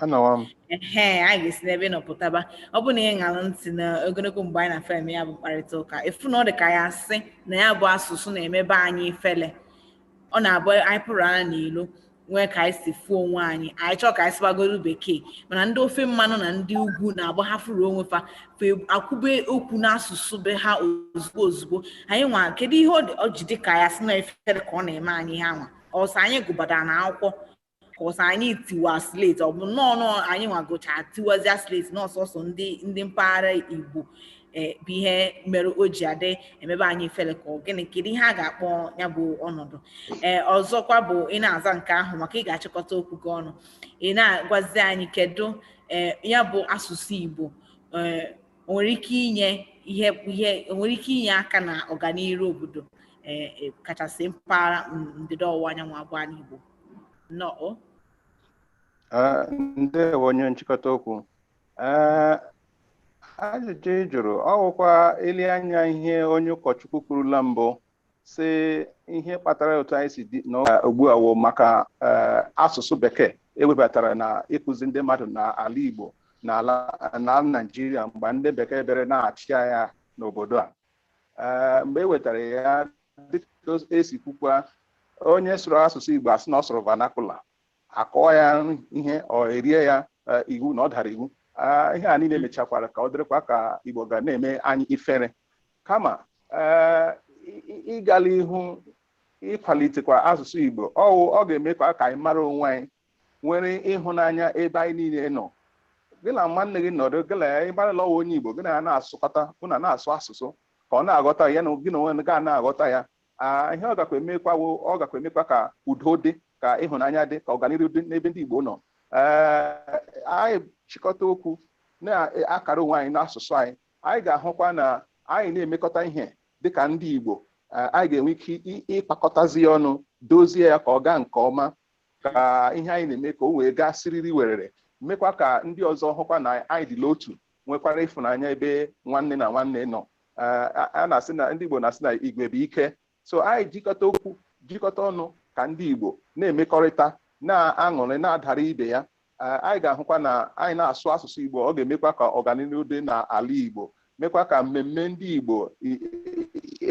anọwa m ee anyị ga-esi n'ebe ị nọ pụtaba ọ bụ na ị ṅara ntị na ogologo mgbe anyị na fa eme ya bụ mkparịta ụka ị fụ na ọ dị ka a ya-asị na ya bụ asụsụ na-emebe anyị ifele ọ na-abụ anyị pụrụ anya n'ilo nwee ka anyị si fụ onwe anyị anyị chọọ ka anyị sụbagodu bekee mana ndị ofe mmanụ na ndị ugwu na-abụ ha fụrụ onwe fa fa ekwube okwu n'asụsụ be ha ozugbo ozugbo anyị nwa kedu ihe ọ dị- ọ ji dị ka a ya-asị na ifere ka ọ na-eme anyị ihe anwa ọ sọ anyị gụbadara na akwụkwọ ka ọ sọ anyị tiwa slate ọ bụ nnọọ nọọ anyị nwa gụchaa tiwazia slate na ọ sọsọ ndị ndị mpaghara igbo eh, bụ ihe mere o ji adị emebe anyị ifele ka gịnị kedu ihe a ga-akpọ ya bụ ọnọdụ ee eh, ọzọkwa bụ ị na-aza nke ahụ maka ị ga-achịkọta okwu gị ọnụ ị na-agwazi anyị kedu ee eh, ya bụ asụsụ igbo ee nwere ike inye ihe ihe nwere ike inye aka na ọganiru obodo ee kachasị mpaghara ndịda ọwụwa anyanwụ a bụ ana igbo nnọọ Ah, ndewo onye nchịkọta okwu Ah, ajụjụ ị jụrụ ọ wụkwa e lee anya ihe onye ụkọchukwu kwuru la mbụ sị ihe kpatara otu anyị si dị n'ụka ugbu a wụ maka eh, asụsụ bekee e webatara na ịkụzi ndị mmadụ n'ala Igbo na ala Naịjirịa mgbe ndị bekee bịara na-achị anyị n'obodo a Eh, mgbe e wetara ya dịka e si kwukwa onye sụrụ asụsụ Igbo a sị na ọ sụrụ vernacular a kụọ ya ihe e rie ya eh, iwu na ọ dara iwu ah, ihe a niile mechakwara ka ọ dịrịkwa ka Igbo ga na-eme anyị ifere kama eh, ịga la ihu ịkwalitekwa asụsụ Igbo ọ wụ ọ ga-emekwa ka anyị mara onwe anyị nwere ịhụnanya ebe anyị niile nọ gị na nwanne gị nọdụ gị na ya ị mara la ọ wụ onye Igbo gị na ya na-asụkọta unu na-asụ asụsụ ka ọ na-aghọta ya na gị na onwe ga na-aghọta ya aa ihe ọ gakwa emekwa wụ ọ gakwa emekwa ka udo dị ka ịhụnanya dị ka ọganihu dị n'ebe ndị Igbo nọ ee anyị chịkọta okwu na-akara onwe anyị n'asụsụ anyị anyị ga-ahụkwa na anyị na-emekọta ihe dịka ndị Igbo anyị ga-enwe ike ịkpakọtazi ya ọnụ dozie ya ka ọ gaa nke ọma ka ihe anyị na-eme ka o wee gaa siriri werere mekwa ka ndị ọzọ hụkwa na anyị dị n'otu nwekwara ịfụnanya ebe nwanne na nwanne nọ a na-asị na ndị Igbo na-asị na igwe bụ ike so anyị jikọta okwu jikọta ọnụ ka ndị Igbo na-emekọrịta na-aṅụrị na-adara ibe ya anyị ga-ahụkwa na anyị na-asụ asụsụ Igbo ọ ga-emekwa ka ọganihu dị n'ala Igbo mekwa ka mmemme ndị Igbo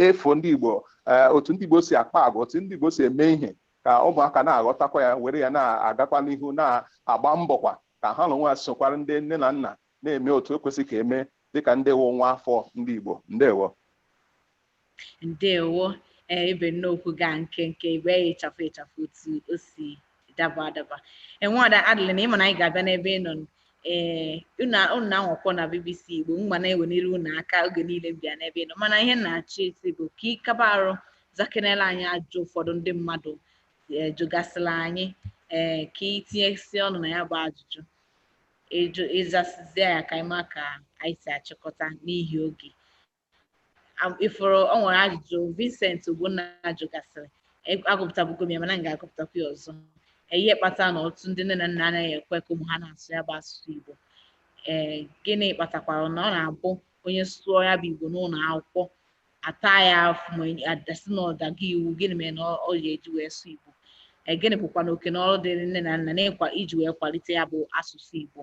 efu ndị Igbo eh, otu ndị Igbo si akpa agwa otu ndị Igbo si eme ihe ka ụmụaka na-aghọtakwa ya were ya na-agakwa n'ihu na-agba mbọkwa ka ha n'onwe ha sokwara ndị nne na nna na-eme otu e kwesị ka e mee dịka ndị wụ nwa afọ ndị Igbo ndewo ndewo ee ebe nnokwu gaa nke nke igbe ịchafụ ịchafụ otu o si daba adaba nwaada Adeline ị ma na anyị ga-abịa n'ebe ị nọ ee unu na-anwakwọ na BBC Igbo m ga na-ewenere unu aka oge niile m bịa n'ebe ị nọ mana ihe na-achị isi bụ ka ị kaba arụ zakenela anyị ajụjụ ụfọdụ ndị mmadụ jụgasịla anyị ee ka ị tinyesi ọnụ na ya bụ ajụjụ ịjụ ịzasịzie ya ka anyị ma ka anyị si achịkọta n'ihi oge ị fụrụ o nwere ajụjụ Vincent Ogbonna jụgasịrị agụpụtabugo m ya mana m ga-agụpụtakwa ya ọzọ ihe kpatara na ọtụtụ ndị nne na nna anaghị ekwe ka ụmụ ha na-asụ ya bụ asụsụ Igbo ee gịnị kpatakwara na ọ na-abụ onye sụọ ya bụ Igbo n'ụlọ akwụkwọ a taa ya afụfụ ma a da-asị na ọ dago iwu gịnị mere na ọ ga-eji wee sụọ igbo e, gịnị bụkwanụ oke na ọrụ dịrị nne na nna n'ịkwa iji wee kwalite ya bụ asụsụ igbo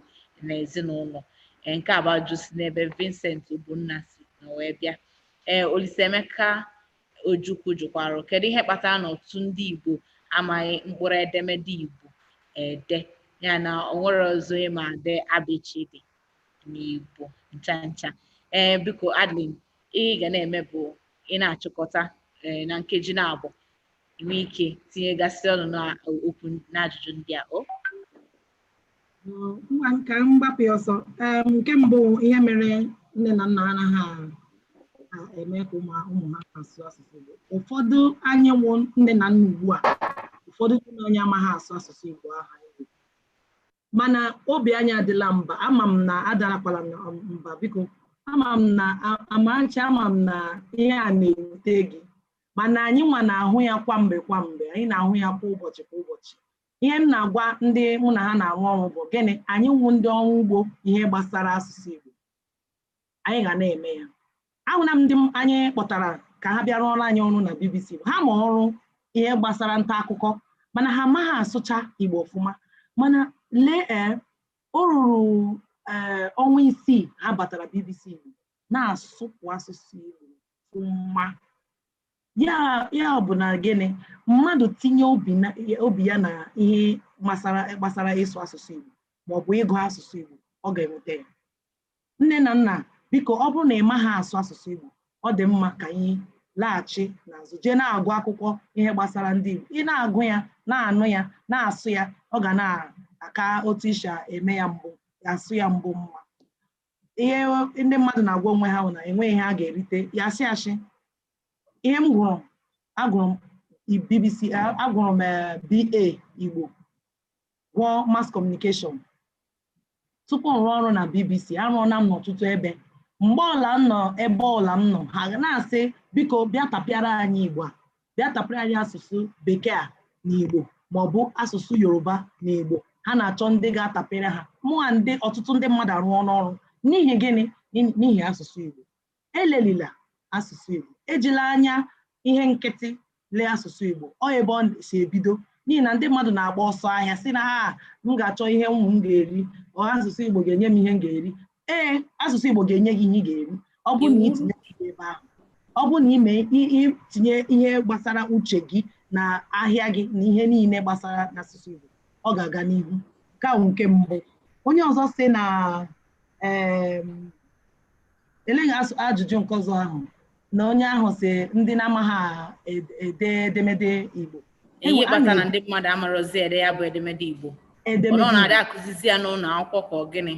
na ezinụlọ e, nke a bụ ajụjụ si n'ebe Vincent Ogbonna si na wee bịa ee Olisaemeka Ojukwu jụkwara kedu ihe kpatara na ọtụtụ ndị igbo amaghị mkpụrụ edemede igbo ede ya na o nwere ọzọ ịma ede abịchịdị n'igbo ncha ncha ee biko Adeline ihe ị ga na-eme bụ ị na-achịkọta eh, na nkeji naabọ ị nwee ike tinyegasị ọnụ n'okwu n'ajụjụ ndị a o ngwa ka m gbapụ ya ọsọ Em, nke mbụ ihe mere nne na nna anaghị a- eme ka ụmụ ụmụ ha asụ asụsụ Igbo ụfọdụ anyị wụ nne na nna ugbu a ụfọdụ ndị anyị amaghị asụ asụsụ Igbo aha Igbo mana obi anyị adala mba ama m na adarakwala mba biko ama m na a- Amarachi ama m na ihe a na-ewute gị mana anyị nwa na-ahụ ya kwa mgbe kwa mgbe anyị na-ahụ ya kwa ụbọchị kwa ụbọchị ihe m na-agwa ndị mụ na ha na-arụ ọrụ bụ gịnị anyị wụ ndị ọrụ ugbo ihe gbasara asụsụ Igbo anyị ga na-eme ya ahụla m ndị anyị kpọtara ka ha bịa rụọrọ anyị ọrụ na BBC Igbo ha ma ọrụ ihe gbasara nta akụkọ mana ha amaghị asụcha Igbo ọfụma mana lee ee eh, o ruru ee eh, ọnwa isii ha batara BBC Igbo na-asụpụ asụsụ Igbo ọfụma ya bụ na gịnị mmadụ tinye obi ya na ihe gbasara ịsụ asụsụ Igbo maọbụ ịgụ asụsụ Igbo ọ ga-enweta ya Nne na nna, biko ọ bụrụ na ị maghị asụ asụsụ Igbo, ọ dị mma ka anyị laghachi n'azụ jee na-agụ akwụkwọ ihe gbasara ndị Igbo. Ị na-agụ ya, na-anụ ya, na-asụ ya, ọ ga na-aka otu ị si eme ya mbụ, asụ ya mbụ mma. Ihe ndị mmadụ na-agwa onwe ha bụ na enweghị ihe a ga-erite ya asị asị. Ihe m gụrụ, agụrụ m BBC, agụrụ m eh, BA Igbo gụọ mass communication tupu m rụọ ọrụ na BBC arụọla m n'ọtụtụ ebe mgbe ọbụla m nọ ebe ọbụla m nọ ha na-asị biko bịa tapịara anyị Igbo a bịa tapịara anyị asụsụ bekee a na Igbo maọbụ asụsụ Yoruba na Igbo ha na-achọ ndị ga-atapịrị ha mụnwa ndị ọtụtụ ndị mmadụ arụọla ọrụ n'ihi gịnị n'ihi asụsụ Igbo elelila asụsụ Igbo ejila anya ihe nkịtị lee asụsụ Igbo ọ ebe ọ si ebido n'ihi na ndị mmadụ na-agba ọsọ ahịa sị na ha ah, m ga-achọ ihe ụmụ m ga-eri ọ asụsụ Igbo ga-enye m ihe m ga-eri ee asụsụ Igbo ga-enye gị ihe ị ga-eri ọ bụrụ na itinye ihe ebe ahụ ọ bụrụ na ime itinye ihe gbasara uche gị na ahịa gị na ihe niile gbasara n'asụsụ Igbo ọ ga-aga n'ihu nke ahụ nke mbụ onye ọzọ sị na eleghị ajụjụ nke ọzọ ahụ na onye ahụ sị ndị na-amaghị ed- ede edemede Igbo ihe kpatara na ndị mmadụ amarozi ede ya bụ edemede igbo ọ na-adị akụzizi ya n'ụlọ akwụkwọ ka ọ gịnị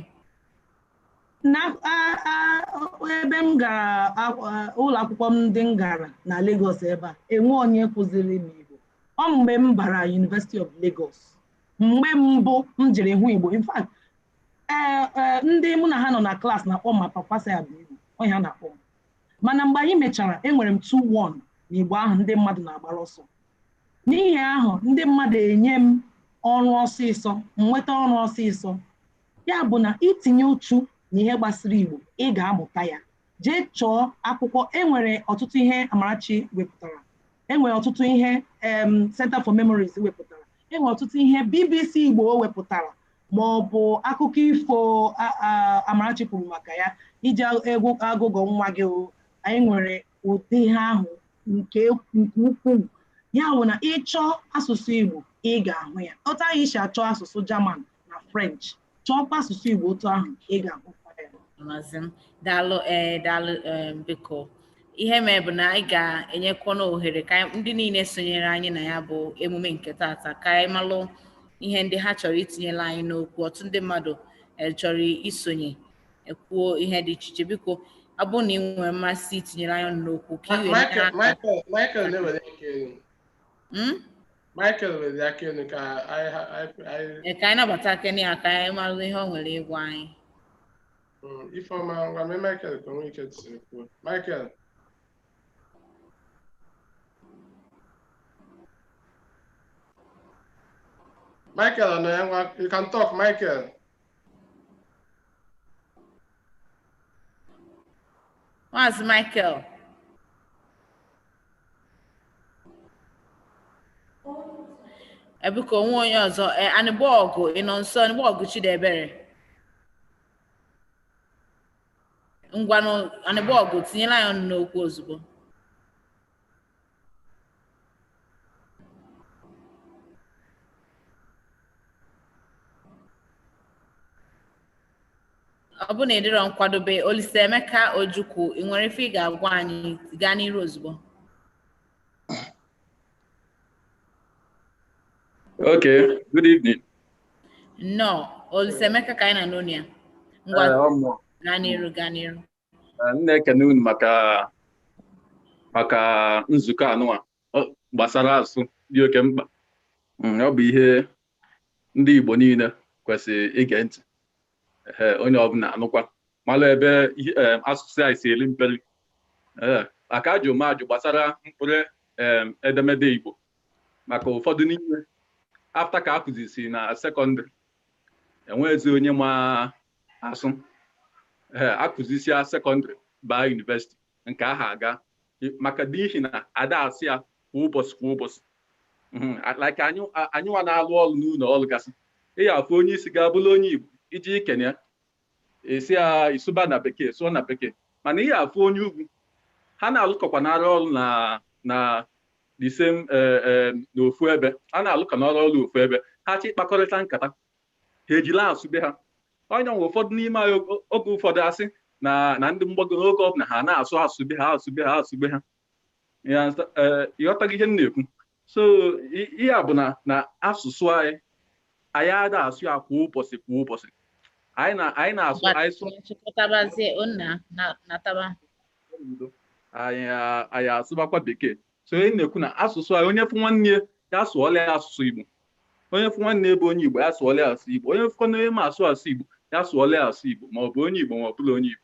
na a- a- o- ebe m gara akwụ- a- ụlọ akwụkwọ m ndị m gara na Lagos ebe a enweghị onye kụziri m Igbo ọ mgbe m bara University of Lagos mgbe mbụ m jiri hụ Igbo in fact ee ee ndị mụ na ha nọ na klaasị na-akpọ m my papa say I be Igbo ọ ihe ha na-akpọ m mana mgbe anyị mechara enwere m 2-1 na igbo ahụ ndị mmadụ na-agbara ọsọ n'ihi ahụ ndị mmadụ enye m ọrụ ọsịsọ m nweta ọrụ ọsịsọ ya bụ na itinye uchu na ihe gbasara igbo ị ga-amụta ya jee chọọ akwụkwọ enwere ọtụtụ ihe amarachi wepụtara enwere ọtụtụ ihe em Center for Memories wepụtara enwere ọtụtụ ihe BBC Igbo wepụtara ma ọ bụ akụkọ ifo Amarachi kwuru maka ya iji egwu agụgọ nwa gị anyị nwere ụdị ihe ahụ nke ukwuu ya bụ na ị chọọ asụsụ Igbo ị ga-ahụ ya otu anyị si achọ asụsụ German na French chọọkwa asụsụ Igbo otu ahụ ị ga-ahụ daalụ eh, daalụ eh, biko ihe mee bụ na anyị ga-enyekwana ohere ka ndị niile sonyere anyị na ya bụ emume nke taata ka anyị malụ ihe ndị ha chọrọ itinyelụ anyị n'okwu ọtụtụ ndị mmadụ eh, chọrọ isonye ekwuo ihe dị iche iche biko ọ bụrụ na i nwere mmasị itinyere anyị ọnụ n'okwu ka i we hmm? Michael were aka elu ka anyị ka anyị nabatakene ya ka anyị malụ ihe o nwere ịgwa anyị Mm, Ifeọma ngwa mee Michael ka o nwee ike siri kwuo. Michael. Michael ọ nọ ya ngwa you can talk Michael. Maazị Michael. Ebuka o nwe onye ọzọ e, Anịgbọgụ ị nọ nso Anịgbọgụ Chidiebere ngwanụ Anịgbọgụ tinyelụ anyị ọnụ n'okwu ozugbo Ọ bụrụ na ị dịrọ nkwadobe, Olisaemeka Ojukwu, i nwere ife ị ga-agwa anyị gaa n'iru ozugbo. Okay, good evening. Nnọọ, Olisaemeka ka anyị na-anụ onu ya. Ngwa Eh, ọ mụ. gaa n'iru gaa n'iru. M na-ekene unu maka maka nzukọ anụwa gbasara asụsụ dị oke mkpa mm, ọ bụ ihe ndị Igbo niile kwesịrị ige ntị onye ọbụla anụkwa malụ ebe eh, asụsụ anyị si eri mperi eh, aka ajụ m ajụ gbasara mkpụrụ eh, edemede Igbo maka ụfọdụ n'ime after ka a kụzisi na sekọndịrị enwezi onye ma asụ ee akụzisia sekọndịrị baa yunivesiti nke ahụ agaa maka n'ihi na ada asụ ya kwa ụbọsị kwa ụbọsị Mhm, a- like anyị a- anyị nwa na-alụ ọrụ n'ụnọ ọlụ gasị ị ya-afụ onye isi ga-abụrụ onye igbo i je ikene ya esi a ị sụba na bekee sụọ na bekee mana ị ya-afụ onye ugwu ha na-alụkọkwa na-arụ ọrụ na na the same eh, eh, n'ofu ebe ha na-alụkọ na-arụ ọrụ ofu ebe ha chọọ ịkpakọrịta nkata ha ejili asụ be ha onye nwe ụfọdụ n'ime anyị oge ụfọdụ a sị na na ndị mgbago n'oge ọbụla ha na-asụ asụ be ha asụ be ha asụ be ha ịghọtaghị ihe m na-ekwu so ihe a bụ na na asụsụ anyị anyị ada asụ ya kwa ụbọchị kwa ụbọchị anyị na anyị na-asụ anyị sụ chịkọtabazie onna na- nataba udo anyị a- anyị asụbakwa bekee so ihe m na-ekwu na asụsụ anyị onye fụ nwanne ya ya sụọla ya asụsụ igbo onye fụ nwanne ya bụ onye igbo ya sụọla ya asụ igbo onye fụkwana onye ma asụ asụ igbo ya sụọla ya asụ igbo ma ọ bụ onye igbo ma ọ bụla onye igbo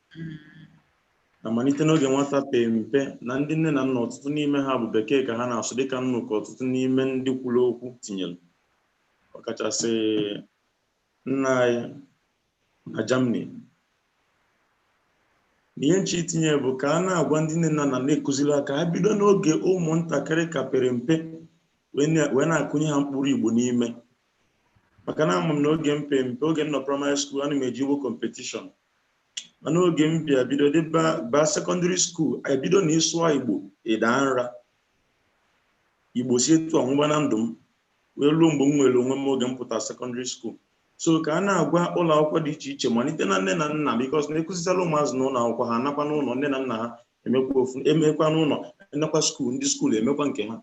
na malite n'oge nwata pe mpe na ndị nne na nna ọtụtụ n'ime ha bụ bekee ka ha na-asụ dịka m nụ ka ọtụtụ n'ime ndị kwuru okwu tinyere ọkachasị nna anyị na Germany ihe m chọ itinye bụ ka a na-agwa ndị nne na nna na-ekụziri ha ka ha bido n'oge ụmụntakịrị ka pere mpe wee na-akụnye ha mkpụrụ Igbo n'ime maka na ama m na oge m pe mpe oge m nọ primary school ana m eje Igbo competition mana oge m bịa bido dị baa secondary school e bido na ị sụọ igbo ị daa nra igbo si etu a nwụba na ndụ m wee ruo mgbe m nwere onwe m oge m pụta secondary school so ka a na-agwa ụlọ akwụkwọ dị iche iche malite na nne na nna because na-ekụzisara ụmụazị na ụlọ akwụkwọ ha nakwa n'ụlọ nne na nna ha emekwa ofu emekwa n'ụlọ emekwa school ndị school emekwa nke ha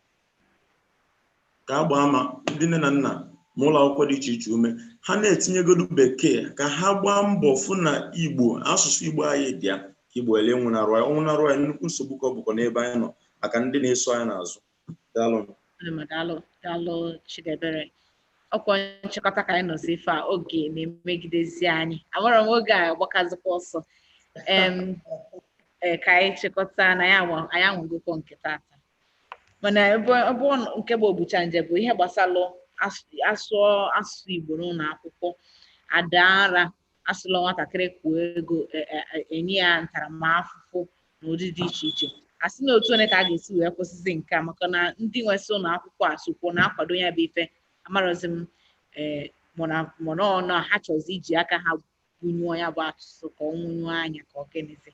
ka a gbaa ma ndị nne na nna ma ụlọ akwụkwọ dị iche iche ume ha na-etinyegodu bekee ka ha gbaa mbọ fụ na igbo asụsụ igbo anyị dị ya ka igbo ghala ịnwụnarụ anyị ọ nwụnarụ anyị nnukwu nsogbu ka ọ bụkwa n'ebe anyị nọ maka ndị na-eso anyị n'azụ daalụ Adịma, daalụ daalụ Chidebere ọ kwa nchịkọta ka anyị nọzi ife a oge na-emegidezi anyị amara m oge a gbakazikwa ọsọ em ee, ka anyị chịkọta na anyị anwa- anyị anwagokwa nke tata mana ebe ebe ọ nọ- nke bụ obucha nje bụ ihe gbasalụ as- asụ asụsụ igbo n'ụlọ akwụkwọ ada nra asụlọ nwatakịrị kwụọ ego e- e- e- enye ya ntaramahụhụ n'ụdị dị iche iche a sị na otu one ka a ga-esi wee kwụsịzi nke a maka na ndị nwesị ụlọ akwụkwọ a sokwu na-akwado ya bụ ife amarọzi m ee mana mana ọ na ha chọzi iji aka ha gbunyụọ ya bụ asụsụ ka ọ nwụnyụọ anya ka ọ gịnịzi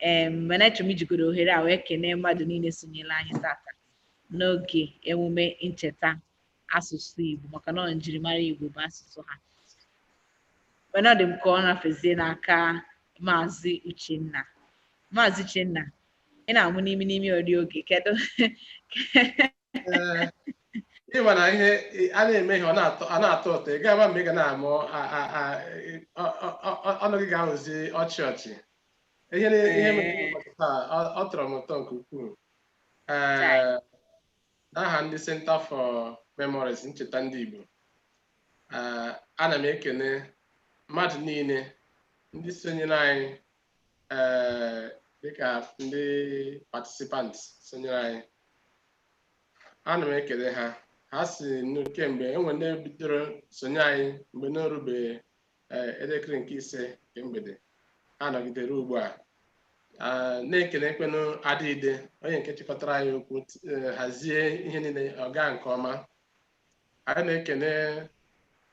ee mana echọrọ m ijigodu ohere a wee kenee mmadụ niile sonyere anyị tata n'oge emume ncheta asụsụ Igbo maka na ọ njirimara Igbo bụ asụsụ ha mana ọ dị m ka ọ nafezie n'aka maazị Uchenna maazị Uchenna ị na-amụ n'imi n'imi eri oge kedu ị ma na ihe a na-eme ihe ọ na-atọ ụtọ ị ga-ama mgbe ị ga na-amụ ọnụ gị ga-abụzi ọchị ọchị ihe ọ tọrọ m ụtọ nke ukwuu n'aha ndị Centre for Memories ncheta ndị Igbo ana m ekene mmadụ niile ndị sonyere anyị ee dịka ndị participant sonyere anyị ana m ekele ha ha si nụ- kemgbe e nwere ndị bidoro sonye anyị mgbe n'orube ee, elekere nke ise nke mgbede ha nọgidere ugbu a Ah, na-ekele Ekwenụ Adịide onye nke chịkọtara anyị okwu t- eh, hazie ihe niile ọ gaa nke ọma anyị na-ekele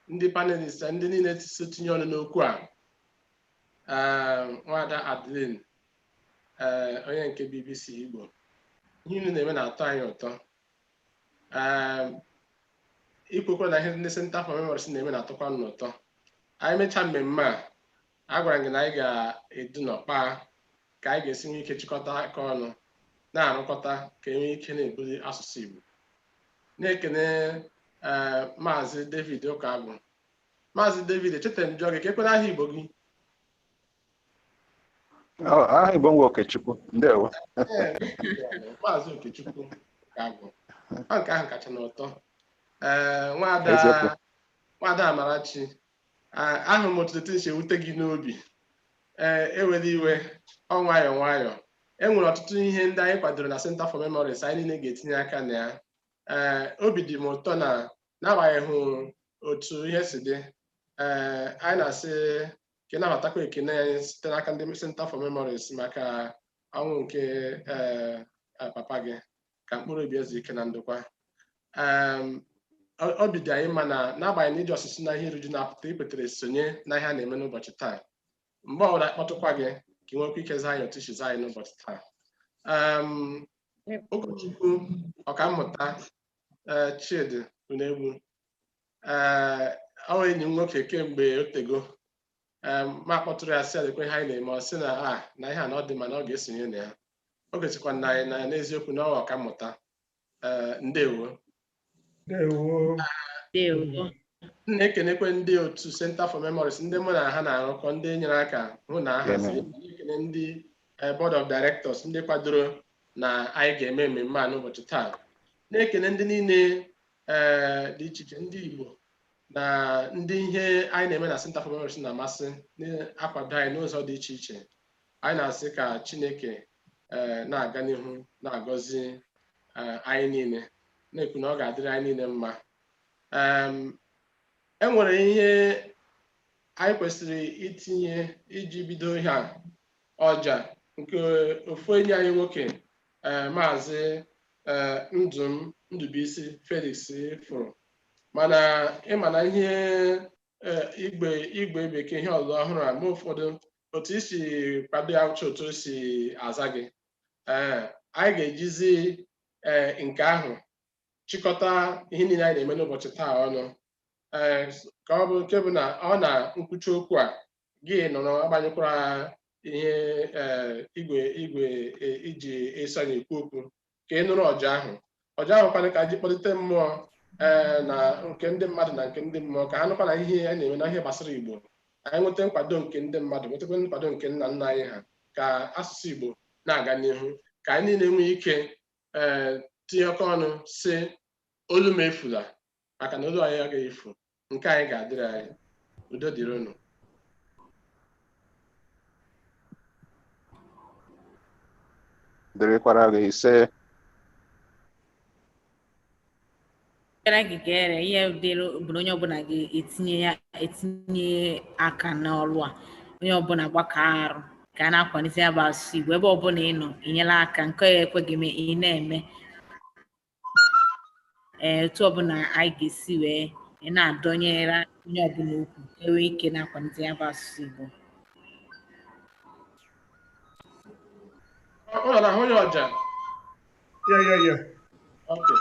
ndị panelist ndị niile so tinye ọnụ n'okwu a Ee, nwaada Adeline ee onye nke BBC Igbo ihe unu na-eme na-atọ anyị ụtọ ee i kwukwara na ihe ndị Center for Memories na-eme na-atọkwa unu ụtọ anyị mechaa mmemme a agwara m gị na anyị ga-edu nọ kpaa ka anyị ga-esi nwee ike chịkọta aka ọnụ na-arụkọta ka e nwee ike na-ebuli asụsụ Igbo na-ekene ee maazị David Ụkagwụ Maazị David, echetara m jụọ gị ka ekwere aha Igbo gị. Ọ- aha Igbo m wụ Okechukwu ndewo Ee, Maazị Okechukwu Ụkagwụ. Ọ nke ahụ kacha n'ụtọ. Ee, Eziokwu. nwaada nwaada Amarachi, a- ahụrụ m otu etu o si ewute gị n'obi. Ee, ewela iwe, ọ nwayọọ nwayọọ. E nwere ọtụtụ ihe ndị anyị kwadoro na Center for Memories anyị niile ga-etinye aka na ya. Ee, obi dị m ụtọ na n'agbanyeghị otu ihe si dị ee anyị na-asị ka ị nabatakwa ekene anyị site n'aka ndị Center for Memories maka ọnwụ nke ee papa gị ka mkpụrụ obi ya zuo ike na ndokwa obi dị anyị mma na n'agbanyeghị na ị just si n'ihe iruju na-apụta i kwetere sonye na ihe a na-eme n'ụbọchị taa mgbe ọbụla akpọtụkwa gị ka ị nwekwa ike zaa anyị otu i si zaa anyị n'ụbọchị taa ụkọchukwu ọkammụta eh, Chidi Unegbu eh, ọ wụ enyi m nwoke kemgbe o tego eh, m kpọtụrụ ya sị ya lekwa ihe anyị na-eme ọ sị na a ah, na ihe a na ọ dị mma na ọ ga-esonye na ya o gosikwara anyị na n'eziokwu na ọ wụ ọkammụta ndewo na-ekenekwe ndị otu Center for Memories ndị mụ na ha na-arụkọ ndị nyere aka hụ na ahazi ekene ndị board of directors ndị kwadoro na anyị ga-eme mmemme a n'ụbọchị taa na-ekele ndị niile ee dị iche iche ndị Igbo na ndị ihe anyị na-eme na Center for Memories na-amasị na-akwado anyị n'ụzọ dị iche iche anyị na-asị ka Chineke ee na-aga n'ihu na-agọzi ee, anyị niile na-ekwu na ọ ga-adịrị anyị niile mma Em, e nwere ihe anyị kwesịrị itinye iji bido ihe a ọja nke ofu enyi anyị nwoke eh, maazị eh, Ndụm Ndubuisi Felix fụrụ mana ị ma na ihe eh, igwe igwe bekee ihe ọzọ ọhụrụ a mgbe ụfọdụ otu i si kwado ya uche otu o si aza gị Eh, anyị ga-ejizi eh, nke ahụ chịkọta ihe niile anyị na-eme n'ụbọchị taa ọnụ Eh, ka ọ bụ nke bụ na ọ na nkwuchi okwu a gị nọrọ agbanyụkwara ihe eh, igwe igwe eh, i ji eso anyị ekwu okwu ka ị nụrụ ọja ahụ ọja ahụ kwanụ ka e ji kpọlite mmụọ eh, na nke ndị mmadụ na nke ndị mmụọ ka ha nụkwa na ihe a na-eme na ihe gbasara igbo anyị nweta nkwado nke ndị mmadụ nwetakwa nkwado nke nna nna anyị ha ka asụsụ igbo na-aga n'ihu ka anyị niile nwee ike ee tinyekọ ọnụ sị olu m efula maka na olu anyị agaghị efu nke anyị ga-adịrị anyị udo dịrị unu dịrịkwara gị ise gara gị gere ihe dịrị bụ na onye ọbụla ga-etinye ya etinye aka n'ọrụ a onye ọbụla gbakọọ aka rụọ ka a na-akwalite ya bụ asụsụ Igbo ebe ọbụla ị nọ i nyela aka nke ya-ekwe gị mee ị na-eme ee otu ọbụla anyị ga-esi wee na-adọnyere onye ọbụla ukwu ka e nwee ike na-akwalite ya bụ asụsụ Igbo Ọ ọ na-afụ ya ọja. Yeah, yeah, yeah. Okay.